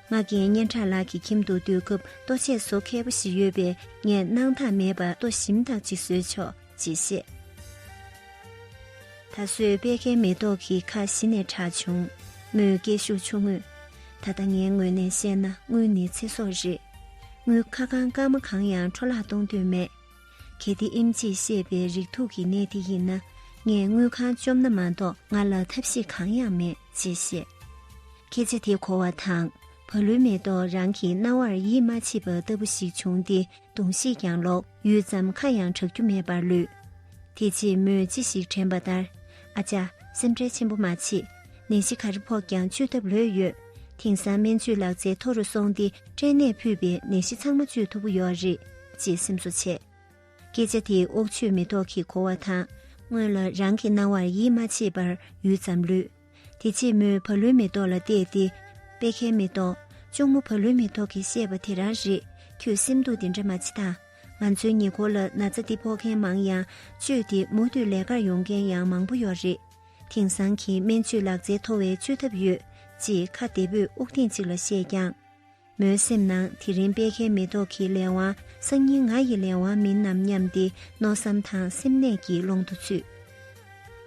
ང་རྒན་སྙན་གྲགས་ལགས་ཀྱི་ཁྱིམ་དུ་སྡོད་སྐབས་ལྟོ་ཆས་བཟོ་མཁས་པོ་ཞིག་ཡོད་པས་ངས་གནང་ཐག་མེད་པར་ལྟོ་ཞིམ་དག་ཅིག་བཟོས་ཆོག། ཅེས་བཤད། ད་གཟོད་དཔལ་ཁའི་མེ་ཏོག་གི་ཁ་གཞི་ནས་གྲགས་བྱུང། མོའི་སྐད་ཤུགས་ཆུང་ངུས། ད་ལྟ་ངའི་ངོས་ནས་བཤད་ན་དངུལ་ནི་ཚེ་སྲོག་རེད། དངུལ་ཁ་གང་བཀག་མ་གང་ཡང་འཕྲོ་བརླག་གཏོང་འདོད་མེད། གལ་ཏེ་ཨིམ་ཅིས་བཤད་པའི་རིགས་དྲུག་གི་གནས་དེ་ཡིན་ན་ངས་དངུལ་ཁང་བཅོམ་ན་མ་གཏོགས་ང་ལ་ཐབས་ཤེས་གང་ཡང་མེད་ཅེས་བཤད། སྐད་ཆ་དེ་གོ་བ་དང་བ་ལུའི་མེ་ཏོག་རང་གི་རྣ་བར་ཡིད་མ་ཆེས་པ་ལྟ་བུ་ཞིག་བྱུང་སྟེ། གདུང་བཞེས་ཀྱང་ལོག། ཡུད་ཙམ་ཁ་ཡང་གྲག་རྒྱུ་མེད་པར་ལུས། དེ་རྗེས་མོས་ཅི་ཞིག་དྲན་པ་ལྟར། ཨ་ཅག། སེམས་ཁྲལ་ཆེན་པོ་མ་བྱེད། ནད་གཞི་ག་རེ་ཕོག་ཀྱང་བཅོས་ཐབས་ལོས་ཡོད། དེང་སང་སྨན་བཅོས་ལག་རྩལ་མཐོ་རུ་སོང་སྟེ་སྐྲན་ནད་ཕུད་པའི་ནད་གཞི་ཚང་མ་བཅོས་ཐུབ་པོ་ཡོད་རེད། ཅེས་སེམས་གསོ་བྱས། སྐད་ཆ་དེས་ཨོག་ཆོས་མེ་ཏོག་གི་གོ་བ་དང། སྔོན་ལ་རང་གི་སྣང་བར་ཡིད་མ་ཆེས་པར་ཡུད་ཙམ་ལུས། དེ་ཕྱི་མོའི་བ་ལུའི་མེ་ཏོག་ལ་བལྟས་ཏེ། པད་ཁའི་མེ་ཏོག། གཅུང་མོ་བ་ལུའི་མེ་ཏོག་གིས་བཤད་པ་དེ་རང་རེད། ཁྱོས་སེམས་སྡུག་དེ་འདྲ་མ་བྱེད་ད། ང་ཚོའི་ཉེ་འཁོར་ལ་ན་ཚ་འདི་ཕོག་མཁན་མང་ཡང། བཅོས་ཏེ་མུ་མཐུད་ལས་ཀར་ཡོང་མཁན་ཡང་མང་པོ་ཡོད་རེད། དེང་སང་གི་སྨན་བཅོས་ལག་རྩལ་མཐོ་བས་བཅོས་ཐབས་ཡོད། ཅེས་ཁ་བདེ་པོས་དབུགས་ཐེངས་གཅིག་ལ་བཤད་ཀྱང། མོའི་སེམས་ནང་དེ་རིང་དཔལ་ཁའི་མེ་ཏོག་གི་ལས་དབང་སང་ཉིན་ང་ཡི་ལས་དབང་མིན་ནམ་སྙམ་སྟེ་མནོ་བསམ་དང་སེམས་ནད་ཀྱི་ཀློང་དུ་ཚུད།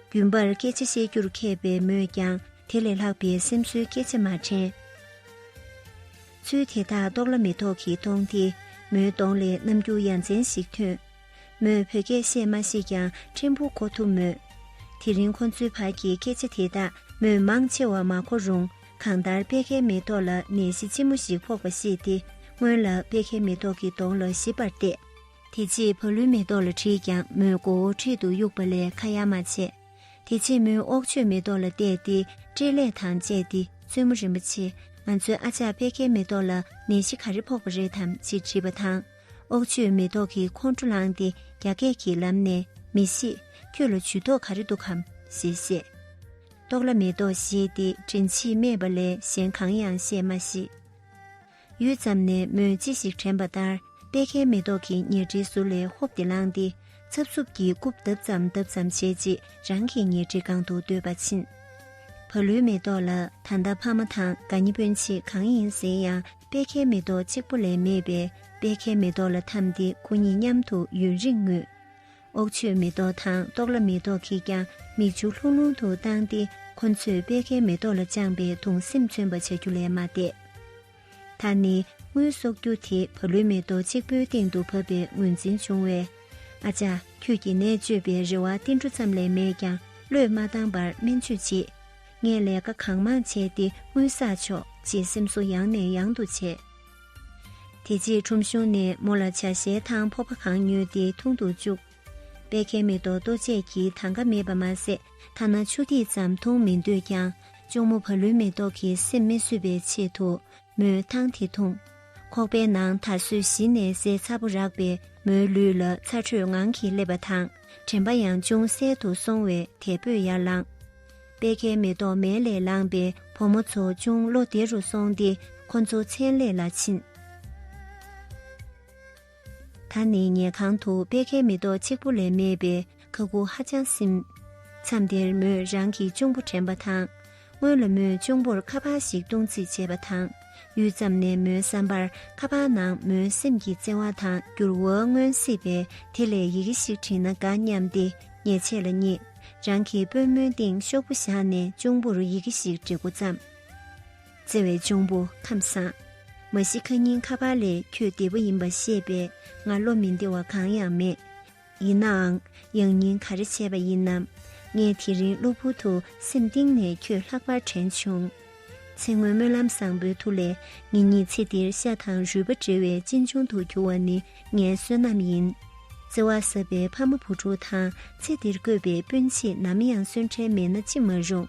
རྒྱུན་པར་སྐད་ཆ་བཤད་རྒྱུར་མཁས་པའི་མོས་ཀྱང་དེ་ལས་ལྷག་པའི་སེམས་གསོའི་སྐད་ཆ་མ་དྲན། ཚུལ་དེ་དག་རྟོགས་ལ་མེ་ཏོག་གི་གདོང་དེ་མོའི་གདོང་ལས་རྣམ་འགྱུར་ཡ་མཚན་ཞིག་ཐོན། མོས་བོད་སྐད་བཤད་མ་ཤེས་ཀྱང་ཕྲན་བུ་གོ་ཐུབ་མོད། དེ་རིང་ཁོ་ཚོའི་བར་གྱི་སྐད་ཆ་དེ་དག་མོས་མང་ཆེ་བ་མ་གོ་རུང་གང་ལྟར་དཔལ་ཁའི་མེ་ཏོག་ལ་ནད་གཞི་ལྕི་མོ་ཞིག་ཕོག་པ་ཤེས་ཏེ་སྔོན་ལ་དཔལ་ཁའི་མེ་ཏོག་གི་གདོང་ལ་ཞིབ་པར་བལྟས། དེ་རྗེས་བ་ལུའི་མེ་ཏོག་ལ་དྲིས་ཀྱང་མོས་མགོ་བོ་ཁྲིད་དུ་གཡུགས་པ་ལས་ཁ་ཡ་མ་བྱས། དེ་རྗེས་མོས་ཨོག་ཆོས་མེ་ཏོག་ལ་བལྟས་ཏེ་སྤྲེལ་ལད་དང་བཅས་ཏེ་བཙུན་མོ་རིན་པོ་ཆེ་ང་ཚོའི་ཨ་ཅག་དཔལ་ཁའི་མེ་ཏོག་ལ་ནད་གཞི་ག་རེ་ཕོག་པ་རེད་དམ་ཅེས་དྲིས་པ་དང། ཨོག་ཆོས་མེ་ཏོག་གི་ཁོང་ཁྲོ་ལངས་ཏེ་རྒྱ་སྐད་ཀྱི་ལམ་ནས་མི་གཤིས་ཁྱོད་ལ་ཇུས་གཏོགས་ག་རེ་འདུག་གམ་ཞེས་བཤད། ཏོག་ལ་མེ་ཏོག་ཞེས་ཏེ་དྲིན་ཆེས་སྨྲས་པ་ལས་གཞན་གང་ཡང་བཤད་མ་ཤེས། ཡུད་ཙམ་ནས་མོས་ཅི་ཞིག་དྲན་པ་ལྟར་པད་ཁའི་མེ་ཏོག་གི་ཉལ་ཁྲིའི་ཟུར་ལས་ཧོབ་ཏེ་ལངས་ཏེ་འཚབ་འཚུབ་ཀྱིས་རྐུབ་བརྡབ་ཙམ་བརྡབ་ཙམ་བྱས་རྗེས་རང་གི་ཉལ་ཁྲིའི་སྒང་དུ་སྡོད་པར་ཕྱིན། བ་ལུའི་མེ་ཏོག་ལ་ད་ལྟ་ཕ་མ་དང་དགའ་ཉེ་སྤུན་མཆེད་གང་ཡིན་ཟེར་ཡང་དཔལ་ཁའི་མེ་ཏོག་གཅིག་པོ་ལས་མེད་པས་དཔལ་ཁའི་མེ་ཏོག་ལ་འཐམས་ཏེ་སྐུ་གཉིས་མཉམ་དུ་ཡུན་རིང་ངུས། ཨོག་ཆོས་མེ་ཏོག་དང་ཏོག་ལ་མེ་ཏོག་གིས་ཀྱང་མིག་ཆུ་ལྷུང་ལྷུང་དུ་བཏང་སྟེ་ཁོ་ཚོས་དཔལ་ཁའི་མེ་ཏོག་ལ་བཅངས་པའི་དུང་སེམས་མཚོན་པ་བྱ་རྒྱུ་ལས་མ་འདས། ད་ནི་དངུལ་གསོག་རྒྱུ་དེ་བ་ལུའི་མེ་ཏོག་གཅིག་པོའི་སྟེང་དུ་བབས་པའི་ངོས་འཛིན་བྱུང་བས། ཨ་ཅག་ཁྱོད་ཀྱིས་ནད་བཅོས་པའི་རེ་བ་ཏིལ་འབྲུ་ཙམ་ལས་མེད་ཀྱང་བློས་མ་བཏང་པར་སྨན་བཅོས་བྱེད། ངས་ལས་ཀ་གང་མང་བྱས་ཏེ་དངུལ་བསགས་ཆོག་ཅེས་སེམས་གསོ་ཡང་ནས་ཡང་དུ་བྱས། དེ་རྗེས་ཁྲོམ་གཞུང་ནས་མོ་ལ་བྱ་ཞལ་ཐང་ཕོར་པ་གང་ཉོས་ཏེ་འཐུང་དུ་བཅུག། པད་ཁའི་མེ་ཏོག་ལྟོ་ཆས་ཀྱིས་ཐང་ཀ་མེད་པ་མ་ཟད་ཐ་ན་ཆུ་ཐིགས་ཙམ་འཐུང་མི་འདོད་ཀྱང་གཅུང་མོ་བ་ལུའི་མེ་ཏོག་གིས་སེམས་མི་བཟོད་པའི་ཆེད་དུ་མོས་ཐང་དེ་འཐུང། ཁོག་པའི་ནང་ད་གཟོད་གཞི་ནས་ཟས་ཚ་པོ་རག་པས་མོའི་ལུས་ལ་ཚ་དྲོད་ངང་གིས་སླེབས་པ་དང་དྲན་པ་ཡང་ཅུང་ཟད་དུ་སོང་བས་དལ་བུས་ཡར་ལངས། དཔལ་ཁའི་མེ་ཏོག་མལ་ལས་ལངས་པས་བུ་མོ་ཚོ་ཅུང་བློ་བདེ་རུ་སོང་སྟེ་ཁོ་ཚོ་མཚན་ལས་ལ་ཕྱིན། ད་ནི་ཉལ་ཁང་དུ་དཔལ་ཁའི་མེ་ཏོག་གཅིག་པུ་ལས་མེད་པས་ཁ་སྒུག་ཧ་ཅང་སིམ། མཚམས་དེར་མོས་རང་གི་གཅུང་པོ་དྲན་པ་དང། སྔོན་ལ་མོས་གཅུང་པོར་ཁ་པར་ཞིག་བཏུང་རྩིས་བྱས་པ་དང། ཡུད་ཙམ་ནས་མོའི་བསམ་པར་ཁ་པར་ནང་མོའི་སེམས་ཀྱི་བརྩེ་བ་དང་འགྱུར་བ་མངོན་སྲིད་པས་དེ་ལས་ཡི་གེ་ཞིག་བྲིས་ན་དགའ་སྙམ་སྟེ་ཉལ་ཆས་ལ་བསྙེགས། རང་གི་པུས་མོའི་སྟེང་ཤོག་བུ་བཞག་ནས་གཅུང་པོར་ཡི་གེ་ཞིག་འབྲི་འགོ་བརྩམས། བརྩེ་བའི་གཅུང་པོ་ཁམས་བཟང། མ་ཤི་ཁ་ཉིན་ཁ་པར་ལས་ཁྱོད་བདེ་པོ་ཡིན་པ་ཤེས་པས་ང་བློ་མི་བདེ་བ་གང་ཡང་མེད། ཡིན་ནའང་ཡང་སྙིང་ག་རེ་བྱས་པ་ཡིན་ནམ། ངས་དེ་རིང་གློ་བུར་དུ་སེམས་གཏིང་ནས་ཁྱོད་ལྷག་པར་དྲན་བྱུང། ཚེ་སྔོན་སྨོན་ལམ་བཟང་པོའི་ཐུགས་ལས་ངེད་གཉིས་ཚེ་འདིར་ཤ་དང་རུས་པ་འབྲེལ་བའི་གཅེན་གཅུང་དུ་གྱུར་བ་ནི་ངའི་བསོད་ནམས་ཡིན། བརྩེ་བ་ཟབ་པའི་ཕ་མ་བུ་ཕྲུག་དང་ཚེ་འདིར་བཀོད་པའི་སྤུན་མཆེད་ནམ་ཡང་གསོན་བྲལ་མེད་ན་ཅི་མ་རུང།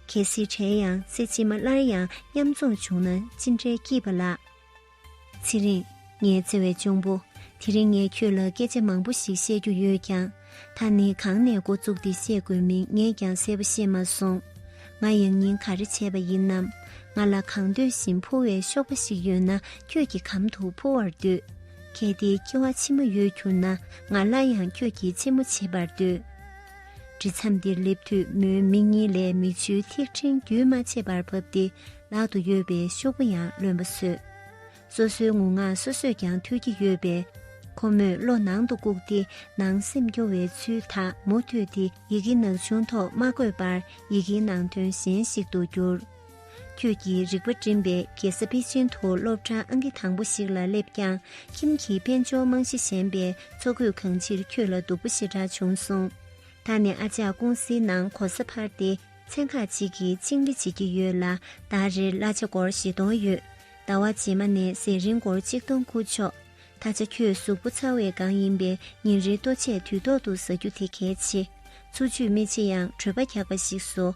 གལ་སྲིད་བྲལ་ཡང་ཚེ་ཕྱི་མ་སླར་ཡང་མཉམ་འཛོམས་བྱུང་ན་ཅི་འདྲའི་སྐྱིད་པ་ལ། ཚེ་རིང། ངའི་བརྩེ་བའི་གཅུང་པོ། དེ་རིང་ངས་ཁྱོད་ལ་སྐད་ཆ་མང་པོ་ཞིག་བཤད་རྒྱུ་ཡོད་ཀྱང། ད་ནི་གང་ནས་འགོ་བཙུགས་ཏེ་བཤད་དགོས་མིན་ངས་ཀྱང་གསལ་པོ་ཤེས་མ་སོང། ང་ཡང་ཉིན་ག་རེ་བྱས་པ་ཡིན་ནམ། ང་ལ་གང་འདོད་བཞིན་འཕུར་བའི་གཤོག་པ་ཞིག་ཡོད་ན་ཁྱོད་ཀྱི་གམ་དུ་འཕུར་བར་འདོད། གལ་ཏེ་སྐྱེ་བ་ཕྱི་མ་ཡོད་གྱུར་ན་ང་སླར་ཡང་ཁྱོད་ཀྱི་ཆེན་མོ་བྱེད་པར་འདོད། འབྲི་མཚམས་འདིར་སླེབས་དུས་མོའི་མིག་གཉིས་ལས་མིག་ཆུའི་ཐིགས་ཕྲེང་རྒྱུན་མ་ཆད་པར་བབས་ཏེ། ལག་ཏུ་ཡོད་པའི་ཤོག་བུ་ཡང་ལོན་པ་སོད། སོ་སོའི་ངུ་ངག་སོ་སོས་ཀྱང་ཐོས་ཀྱི་ཡོད་པས། ཁོ་མོས་བློ་ནང་དུ་བཀུག་སྟེ་ནང་སེམས་སྐྱོ་བའི་ཚུལ་དག་མུ་མཐུད་དེ་ཡི་གེ་ནག་ཆུང་ཐོག་མ་བཀོད་པར་ཡི་གེའི་ནང་དོན་གཞན་ཞིག་ཏུ་བསྒྱུར། ཁྱོད་ཀྱི་རིག་པ་སྒྲིམ་པའི་རྒྱལ་ས་པེ་ཅིན་དུ་སློབ་གྲྭ་ཨང་ཀི་དང་པོ་ཞིག་ལ་སླེབས་ཀྱང་ཁྱིམ་གྱི་དཔལ་འབྱོར་རྨང་གཞི་ཞན་པས་འཚོ་གོས་གང་ཕྱིར་ཁྱོད་ལ་སྡུག་པོ་ཞེ་དྲག་བྱུང་སོང། ད་ནི་ཨ་ཅག་ཀུང་སིའི་ནང་གོ་ས་འཕར་ཏེ། ཚན་ཁག་ཅིག་གིས་ཆིངས་ལེ་བྱེད་ཀྱི་ཡོད་ལ་ཟླ་རེར་གླ་ཆ་སྒོར་བཞི་སྟོང་ཡོད། ཟླ་བ་རྗེས་མ་ནས་ཟས་རིན་སྒོར་གཅིག་སྟོང་ཁུར་ཆོག། ད་ཆ་ཁྱོད་གཟུགས་པོ་ཚ་བས་གང་ཡིན་པའི་ཉིན་རེའི་ལྟོ་ཆས་དུས་ཐོག་ཏུ་ཟ་རྒྱུ་དེ་གལ་ཆེ། འཚོ་བཅུད་མི་ཆེ་ཡང་གྲོད་པ་འཁྱག་པ་ཞིག་བཟོ།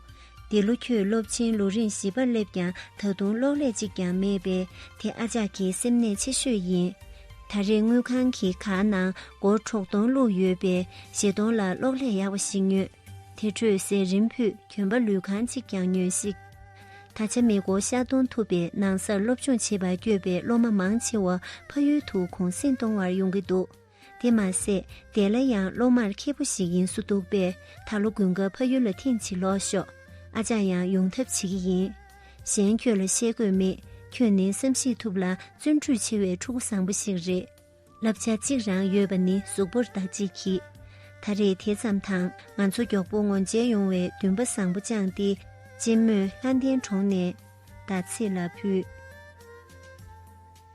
འདི་ལོ་ཁྱོད་སློབ་ཆེན་ལོ་རིང་བཞི་པར་སླེབས་ཀྱང་ད་དུང་གློག་ཀླད་གཅིག་ཀྱང་མེད་པས་དེ་ཨ་ཅག་གི་སེམས་ནད་ཆེ་ཤོས་ཡིན། ད་རེས་དངུལ་ཁང་གི་ཁ་ནང་སྒོར་གྲོགས་སྟོང་བླུགས་ཡོད་པས་བཞི་སྟོང་ལ་གློག་ཀླད་ཡག་པ་ཞིག་ཉོས། དེ་འཕྲོས་ཟས་རིམ་ཕུད་གྱོན་པ་ལུས་གང་ཅིག་ཀྱང་ཉོན་ཤིག། ད་ཆ་མེ་འཁོར་ཤར་གཏོང་ཐུབ་པའི་ནང་སར་སློབ་སྦྱོང་བྱེད་པར་བསྐྱོད་པའི་སློབ་མ་མང་ཆེ་བ་ཕ་ཡུལ་དུ་གུང་གསེང་གཏོང་བར་ཡོང་གི་འདུག་དེ་མ་ཟད་དེ་ལ་ཡང་སློབ་མར་མཁས་པོ་ཞིག་ཡིན་བཟོ་འདུག་པས་ད་ལོ་དགུན་སྐབས་ཕ་ཡུལ་ལ་ཐེངས་གཅིག་ལོག་ཤོག་ཨ་ཅག་ཡང་ཡོང་ཐབས་བྱེད་ཀྱི་ཡིན། གཞན་ཁྱོད་ལ་བཤད་དགོས་མེད་ཁྱོད་ནི་བསམ་གཞིགས་ཐུབ་ལ་བརྩོན་འགྲུས་ཆེ་བའི་ཕྲུ་གུ་བཟང་པོ་ཞིག་རེད། བསླབ་བྱ་གཅིག་རང་ཡོད་པ་ནི་གཟུགས་པོར་བདག་གཅིག་གིས། ད་རེས་དེ་ཙམ་དང་ང་ཚོ་མགྱོགས་པོ་ངོ་མཇལ་ཡོང་བའི་འདུན་པ་བཟང་པོ་བཅངས་ཏེ་གཅེན་མོས་ལྷ་ལྡན་གྲོང་ནས་ཟླ་ཚེས་ལ་ཕུལ།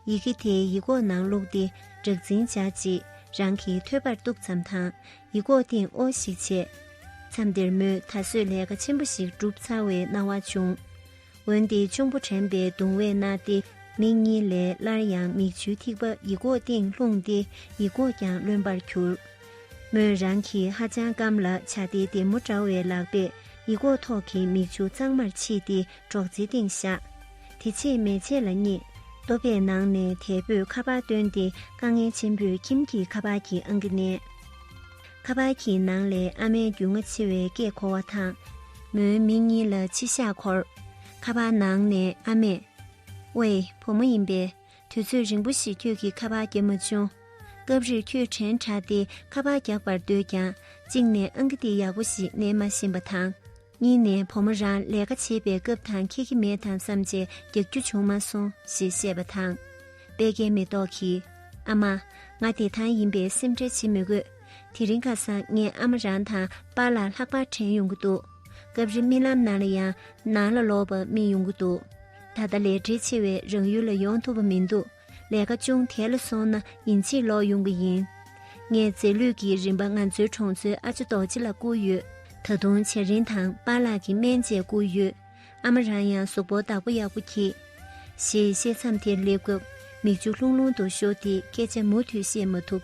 ཡི་གེ་དེ་ཡིག་ཀོག་ནང་བླུགས་ཏེ་སྦྲག་འཛིན་བྱས་རྗེས་རང་གིས་ཐོད་པར་གཏུགས་ཙམ་དང་ཡིག་ཀོག་སྟེང་དབོ་ཞིག་བྱས། མཚམས་དེར་མོས་ད་གཟོད་ལས་ཀ་ཆེན་པོ་ཞིག་བསྒྲུབས་ཚར་བའི་སྣང་བ་བྱུང། འོན་ཏེ་གཅུང་པོ་དྲན་པའི་གདུང་བས་མནར་ཏེ་མིག་གཉིས་ལས་སླར་ཡང་མིག་ཆུའི་ཐིགས་པ་ཡིག་གོག་སྟེང་ལྷུང་སྟེ་ཡིག་གོག་ཀྱང་རློན་པར་གྱུར། མོས་རང་གི་ཧ་ཅང་སྐམ་ལ་བྱ་སྟེ་བདེ་མོ་འདྲ་བའི་ལག་པས་ཡིག་གོག་ཐོག་གི་མིག་ཆུ་གཙང་མར་ཕྱིས་ཏེ་སྒྲོག་ཙེའི་སྟེང་བཞག། དེ་ཕྱེད་མེ་ལྕེ་ལ་བསྙེགས། ལྟོ་ཕད་ནང་ནས་དལ་བུས་ཁ་པར་བཏོན་ཏེ་དཀའ་ངལ་ཆེན་པོས་ཁྱིམ་གྱི་ཁ་པར་གྱི་ཨང་ཀི་བསྣན། ཁ་པར་གྱི་ནང་ལས་ཨ་མའི་རྒྱུས་མངའ་ཆེ་བའི་སྐད་གོ་བ་དང། མོའི་མིག་གཉིས་ལ་མཆི་ཞག་འཁོར། ཁ་པར་ནང་ནས་ཨ་མས། ཝེ། བུ་མོ་ཡིན་པས། དུས་ཚོད་རིང་པོ་ཞིག་ཁྱོད་ཀྱིས་ཁ་པར་རྒྱབ་མ་བྱུང། སྐབས་རེར་ཁྱོད་དྲན་དྲགས་ཏེ་ཁ་པར་རྒྱག་པར་འདོད་ཀྱང་གཅིག་ནས་ཨང་ཀི་འདི་ཡག་པོ་ཞིག་མནན་མ་ཤེས་པ་དང། གཉིས་ནས་བུ་མོ་རང་ལས་ཀ་བྱེད་པའི་སྐབས་དང་ཁྱེད་ཀྱི་མེད་དམ་བསམ་རྗེས་རྒྱག་རྒྱུ་བྱུང་མ་སོང་ཞེས་བཤད་པ་དང། དཔལ་ཁའི་མེ་ཏོག་གིས། ཨ་མ། ང་བདེ་ཐང་ཡིན་པས་སེམས་ཁྲལ་བྱེད་མི་དགོས། དེ་རིང་ཁ་སང་ངས་ཨ་མ་རང་དང་པཱ་ལགས་ལྷག་པར་དྲན་ཡོང་གི་འདུག་སྐབས་རེ་རྨི་ལམ་ནང་ལ་ཡང་ནང་ལ་ལོག་པར་རྨིས་ཡོང་གི་འདུག་ད་ལྟ་ལས་བྲེལ་ཆེ་བས་རང་ཡུལ་ལ་ཡོང་ཐུབ་པ་མི་འདུག་ལས་ཀ་ཅུང་དལ་ལ་སོང་ན་ཉིན་གཅིག་ལོག་ཡོང་གི་ཡིན། ངས་རྫས་ལུད་ཀྱི་རིན་པ་ང་ཚོའི་གྲོང་ཚོའི་ཨ་ཅེ་རྡོ་རྗེ་ལ་བསྐུར་ཡོད། ད་དུང་བྱ་རིན་དང་པཱ་ལགས་ཀྱི་སྨན་བཅས་བསྐུར་ཡོད། ཨ་མ་རང་ཡང་གཟུགས་པོ་བདག་པོ་ཡག་པོ་གྱིས། ཞེས་བཤད་མཚམས་དེར་སླེབས་སྐབས་མིག་ཆུ་ལྷུང་ལྷུང་དུ་ཤོར་ཏེ་སྐད་ཆ་མུ་མཐུད་བཤད་མ་ཐུབ།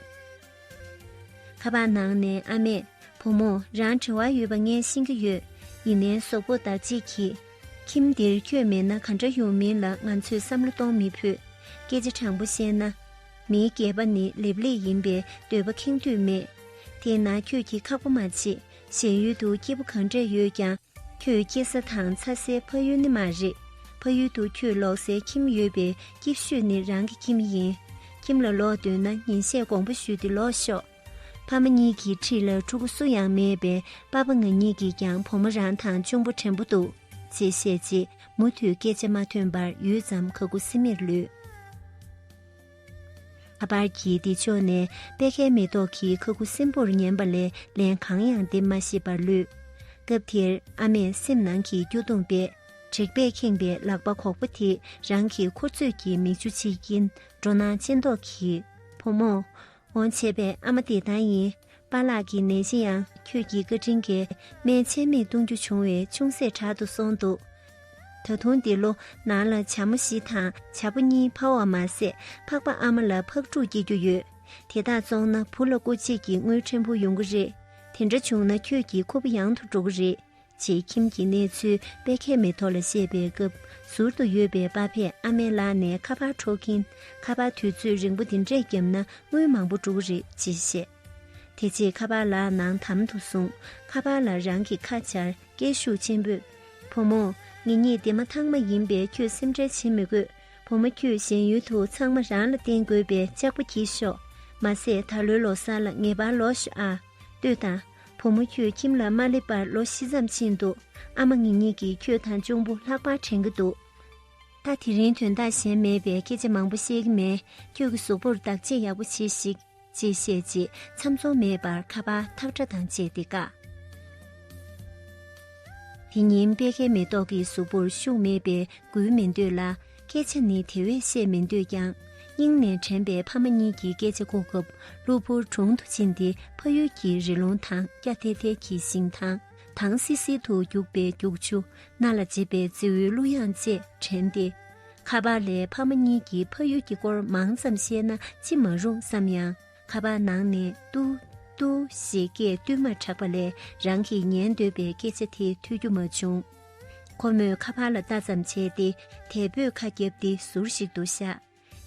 ཁ་པར་ནང་ནས་ཨ་མས། བུ་མོ་རང་དྲི་བ་ཡོད་པ་ངས་ཤེས་ཀྱི་ཡོད། ཡིན་ནའི་གཟུགས་པོ་བདག་གཅེས་ཀྱིས། ཁྱིམ་འདིར་ཁྱོད་མེད་ན་ག་འདྲ་ཡོང་མིན་ལ་ང་ཚོས་བསམ་བློ་གཏོང་མི་ཕོད། སྐད་ཆ་དྲང་པོ་བཤད་ན། མིའི་སྐྱེས་པ་ནི་ལེབ་ལེགས་ཡིན་པས་འདོད་པ་ཁེངས་དུས་མེད། དེས་ན་ཁྱོད་ཀྱིས་ཁག་པོ་མ་བྱེད། གཞན་ཡུལ་དུ་སྐྱེས་བུ་གང་འདྲས་ཡོད་ཀྱང། ཁྱོད་སྐྱེས་ས་དང་འཚར་སའི་ཕ་ཡུལ་ནི་མ་རེད། ཕ་ཡུལ་དུ་ཁྱོད་ལོག་སའི་ཁྱིམ་ཡོད་པས་སྐྱིད་ཤོས་ནི་རང་གི་ཁྱིམ་ཡིན། ཁྱིམ་ལ་ལོག་འདོད་ན་ཉིན་ཤས་གོང་པ་ཞུས་ཏེ་ལོག་ཤོག། ཕ་མ་གཉིས་ཀྱི་ཁྲིད་ལ་ཕྲུ་གུ་སུ་ཡང་མེད་པས་པ་པ་ང་གཉིས་ཀྱིས་ཀྱང་བུ་མོ་རང་དང་གཅུང་པོ་བྲན་པོ་འདུག་ཅེས་བཤད་རྗེས་མུ་མཐུད་སྐད་ཆ་མ་ཐོན་པར་ཡུད་ཙམ་ག་གུ་སིམ་མེར་ལུས། ཁ་པར་གྱི་སྡིག་ཕྱོགས་ནས་པད་ཁའི་མེ་ཏོག་གིས་ག་གུ་སིམ་པོར་ཉན་པ་ལས་ལན་གང་ཡང་འདེབས་མ་ཤེས་པར་ལུས། སྐབས་དེར་ཨ་མས་སེམས་ནང་གི་སྐྱོ་གདུང་པས་དྲེག་པས་ཁེངས་པའི་ལག་པ་གོག་པོ་དེས་རང་གི་མཁུར་ཚོས་ཀྱི་མིག་ཆུ་ཕྱིས་ཀྱིན་འགྲོ་སྣང་ཅན་མདོག་གིས། བུ་མོ། འོང་བྱས་པའི་ཨ་མ་དེ་ལྟར་ཡིན། པཱ་ལགས་ཀྱི་ནད་གཞི་ཡང་ཁྱོད་ཀྱི་བཀའ་དྲིན་གྱིས་སྨན་ཆད་མེད་གཏོང་རྒྱུ་བྱུང་བས་ཅུང་ཟད་དྲག་ཏུ་སོང་འདུག་ད་དུང་འདི་ལོ་ནང་ལ་བྱ་མོ་བཞི་དང་བྱ་ཕོ་གཉིས་ཕ་བ་མ་ཟད་འཕགས་པ་ཨ་མ་ལ་ཕག་ཕྲུག་སྐྱེ་རྒྱུ་ཡོད། དེ་དག་བཙོང་ན་བུ་ལ་སྐུ་ཆེད་ཀྱི་དངུལ་ཕྲན་བུ་ཡོང་གི་རེད། དེ་འདྲ་བྱུང་ན་ཁྱོད་ཀྱི་ཁུ་བོ་ཡང་དུ་འགྲོ་གི་རེད། ཅེས་ཁྱིམ་གྱི་གནས་ཚུལ་དཔེ་ཁས་མེ་ཐོ་ལ་བཤད་པའི་སྐབས་ཟུར་དུ་ཡོད་པའི་པ་ཕས་ཨ་མའི་ལག་ནས་ཁ་པར་འཕྲོག་གིན་ཁ་པར་དུས་ཚོད་རིང་པོ་འདི་འདྲས་བརྒྱབ་ན་དངུལ་མང་པོ་འགྲོ་གི་རེད་ཅེས་བཤད། དེ་རྗེས་ཁ་པར་ལག་ནང་དམ་དུ་བཟུང་ཁ་པར་ལ་རང་གི་ཁ་སྦྱར་སྐད་ཤུགས་ཆེན་པོས། བུ་མོ། ངེད་གཉིས་སྡེ་མ་ཐང་མ་ཡིན་པས་ཁྱོས་སེམས་ཁྲལ་བྱེད་མི་དགོས། བུ་མོ་ཁྱོས་གཞན་ཡུལ་དུ་ཚང་མ་རང་ལ་བརྟེན་དགོས་པས་ལྕགས་པོ་གྱིས་ཤོག། མ་ཟད་ད་ལོའི་ལོ་སར་ལ་ངེས་པར་ལོག་ཤོག་ཨ། ལྟོས་དང། བུ་མོ་ཁྱོད་ཁྱིམ་ལ་མ་སླེབས་པར་ལོ་བཞི་ཙམ་ཕྱིན་འདུག་ཨ་མ་ངེད་གཉིས་ཀྱིས་ཁྱོད་དང་གཅུང་པོ་ལྷག་པར་དྲན་གྱི་འདུག་ད་དེ་རིང་དོན་དག་གཞན་མེད་པས་སྐད་ཆ་མང་པོ་བཤད་ཀྱི་མེད་ཁྱོད་ཀྱི་གཟུགས་པོར་བདག་གཅེས་ཡག་པོ་བྱེད་ཤིག། ཅེས་བཤད་རྗེས་མཚམས་མཚོག་མེད་པར་ཁ་པ་ཐག་སྒྲ་དང་བཅས་ཏེ་བཀག། དེ་ཉིན་དཔལ་ཁའི་མེ་ཏོག་གི་གཟུགས་པོར་ཤུགས་མེད་པས་འགུལ་མི་འདོད་ལ། སྐད་ཆ་ནི་དེ་བས་བཤད་མི་འདོད་ཀྱང། སྙིང་ནས་དྲན་པའི་ཕ་མ་གཉིས་ཀྱི་སྐད་ཆ་གོ་སྐབས་གློ་བུར་དྲུང་དུ་ཕྱིན་ཏེ་ཕ་ཡུལ་གྱི་རི་ལུང་དང་སྐྱ་ཐལ་ཐལ་གྱི་ཞིང་ཐང་དང་བསིལ་བསིལ་དུ་རྒྱུག་པའི་རྒྱུག་ཆུ་སྣ་ལ་འཇེབས་པའི་རྫིའུའི་གླུ་དབྱངས་བཅས་དྲན་ཏེ། ཁ་པར་ལས་ཕ་མ་གཉིས་ཀྱི་ཕ་ཡུལ་གྱི་སྐོར་མང་ཙམ་བཤད་ན་ཅི་མ་རུང་བསམ་ཡང་ཁ་པར་ནང་ནས་ཏུ། ཏུ། ཞེས་སྐད་བསྟུད་མར་གྲགས་པ་ལས་རང་གིས་ཉན་འདོད་པའི་སྐད་ཆ་དེ་ཐོས་རྒྱུ་མ་བྱུང། ཁོ་མོས་ཁ་ཕར་ལ་ལྟ་ཙམ་བྱས་ཏེ་དལ་བུས་ཁ་བརྒྱབ་སྟེ་ཟུར་ཞིག་ཏུ་བཞག།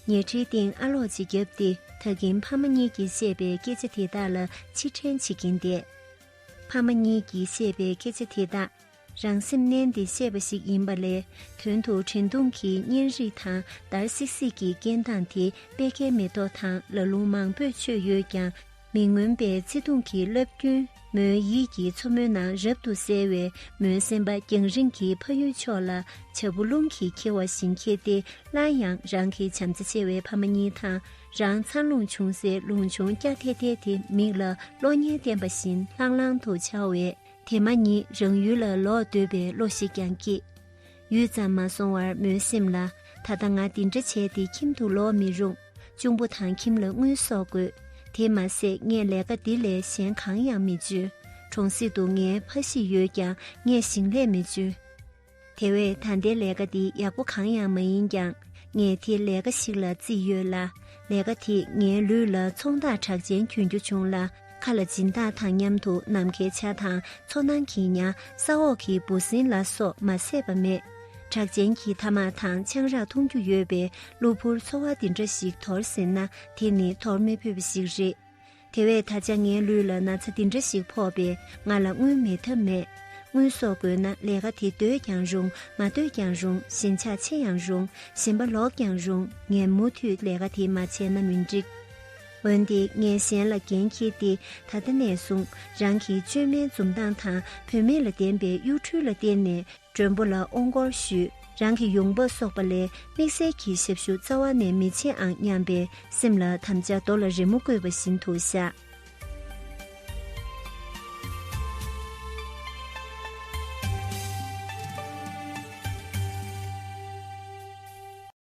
ཉལ་ཁྲིའི་སྟེང་ཨ་ལོག་ཅིག་བརྒྱབ་སྟེ་ད་གིན་ཕ་མ་གཉིས་ཀྱིས་བཤད་པའི་སྐད་ཆ་དེ་དག་ལ་ཕྱིར་དྲན་བྱེད་ཀྱིན་བསྡད། ཕ་མ་གཉིས་ཀྱིས་བཤད་པའི་སྐད་ཆ་དེ་དག་རང་སེམས་མནན་ཏེ་བཤད་པ་ཞིག་ཡིན་པ་ལས་དོན་དུ་དྲན་གདུང་གི་བརྙན་རིས་དང་འདར་སིག་སིག་གི་སྐད་མདངས་དེ་དཔེ་ཁའི་མེ་ཏོག་དང་ལ་ལུང་མང་པོས་མཆོད་ཡོད་ཀྱང། མི་མངོན་པའི་ཚེ་གདུང་གི་རླབས་རྒྱུན་མོའི་ཡིད་ཀྱི་མཚོ་མོ་ན་རབ་ཏུ་གསལ་བས་མོའི་སེམས་པ་རྒྱང་རིང་གི་ཕ་ཡུལ་ཕྱོགས་ལ་བྱ་སྤུ་རླུང་གིས་འཁྱེར་བ་བཞིན་འཁྱེར་ཏེ་སླར་ཡང་རང་གི་བྱམས་བརྩེ་ཆེ་བའི་ཕ་མ་གཉིས་དང་རང་འཚང་རླུང་ཆུང་སའི་རླུང་ཆུང་སྐྱ་ཐལ་ཐལ་དེ་མིག་ལ་གློག་བརྙན་བསྟན་པ་བཞིན་ལྷང་ལྷང་དུ་འཆར་བས་དེ་མ་ཉིད་རང་ཡུལ་ལ་ལོག་འདོད་པའི་བློ་ཞིག་ཀྱང་སྐྱེས། ཡུད་ཙམ་མ་སོང་བར་མོའི་སེམས་ལ་ད་ལྟ་ང་འདི་འདྲ་བྱས་ཏེ་ཁྱིམ་དུ་ལོག་མི་རུང། གཅུང་པོ་དང་ཁྱིམ་ལ་དངུལ་གསོག་དགོས། དེ་མ་ཟད་ངས་ལས་ཀ་འདི་ལས་གཞན་གང་ཡང་མི་འཇོན། གྲོང་གསེབ་ཏུ་ངའི་ཕ་གཞིས་ཡོད་ཀྱང་ངས་ཞིང་ལས་མི་འཇོན། དེ་བས་ད་ལྟའི་ལས་ཀ་འདི་ཡག་པོ་གང་ཡང་མ་ཡིན་ཀྱང་ངས་དེ་ལས་ཀ་ཞིག་ལ་བརྩིས་ཡོད་ལ། ལས་ཀ་དེས་ངའི་ལུས་ལ་ཚོང་རྟགས་གྲགས་ཅན་གྱོན་རྒྱུ་བྱུང་ལ། མཁའ་ལ་སྦྱིན་བདག་དང་མཉམ་དུ་ནམ་མཁའི་ཆ་དང་མཚོ་ནང་གི་ཉྭ་ས་འོག་གི་འབུ་སྲིན་ལ་སོགས་མ་བསད་པ་མེད། གྲགས་ཅན་གྱི་ཐ་མག་དང་ཆང་རག་འཐུང་རྒྱུ་ཡོད་པའི་གློ་བུར་འཚོ་བ་འདི་འདྲ་ཞིག་དོར་ཟེར་ན་དེ་ནི་དོར་མི་ཕོད་པ་ཞིག་རེད། དེ་བས་ད་ཆ་ངའི་ལུས་ལ་ན་ཚ་འདི་འདྲ་ཞིག་ཕོག་པས་ང་ལ་དངུལ་མེད་ཐབས་མེད། དངུལ་གསོག་དགོས་ན་ལས་ཀ་དེ་འདོད་ཀྱང་རུང་མ་འདོད་ཀྱང་རུང་ཞེན་ཆགས་ཆེ་ཡང་རུང་ཞེན་པ་ལོག་ཀྱང་རུང་ངས་མུ་མཐུད་ལས་ཀ་དེ་མ་བྱས་ན་མི་འགྲིག། འོན་ཏེ་ངས་གཞན་ལ་འགན་འཁྱེར་ཏེ་ད་ལྟ་ནས་བཟུང་རང་གི་བཅོས་མའི་འཛུམ་མདངས་དང་བུད་མེད་ལ་ལྡན་པའི་གཡོ་འཕྲུལ་ལ་བརྟེན་ནས་མགྲོན་པོ་ལ་ཨོང་སྐོར་ཞུས་རང་གི་ཡོང་འབབ་གསོག་པ་ལས་དམིགས་བསལ་གྱི་ཞབས་ཞུ་རྩ་བ་ནས་མི་བྱེད་ཨང་སྙམ་པའི་སེམས་ལ་དམ་བཅའ་རྡོ་ལ་རི་མོ་བརྐོས་པ་བཞིན་དུ་བཞག།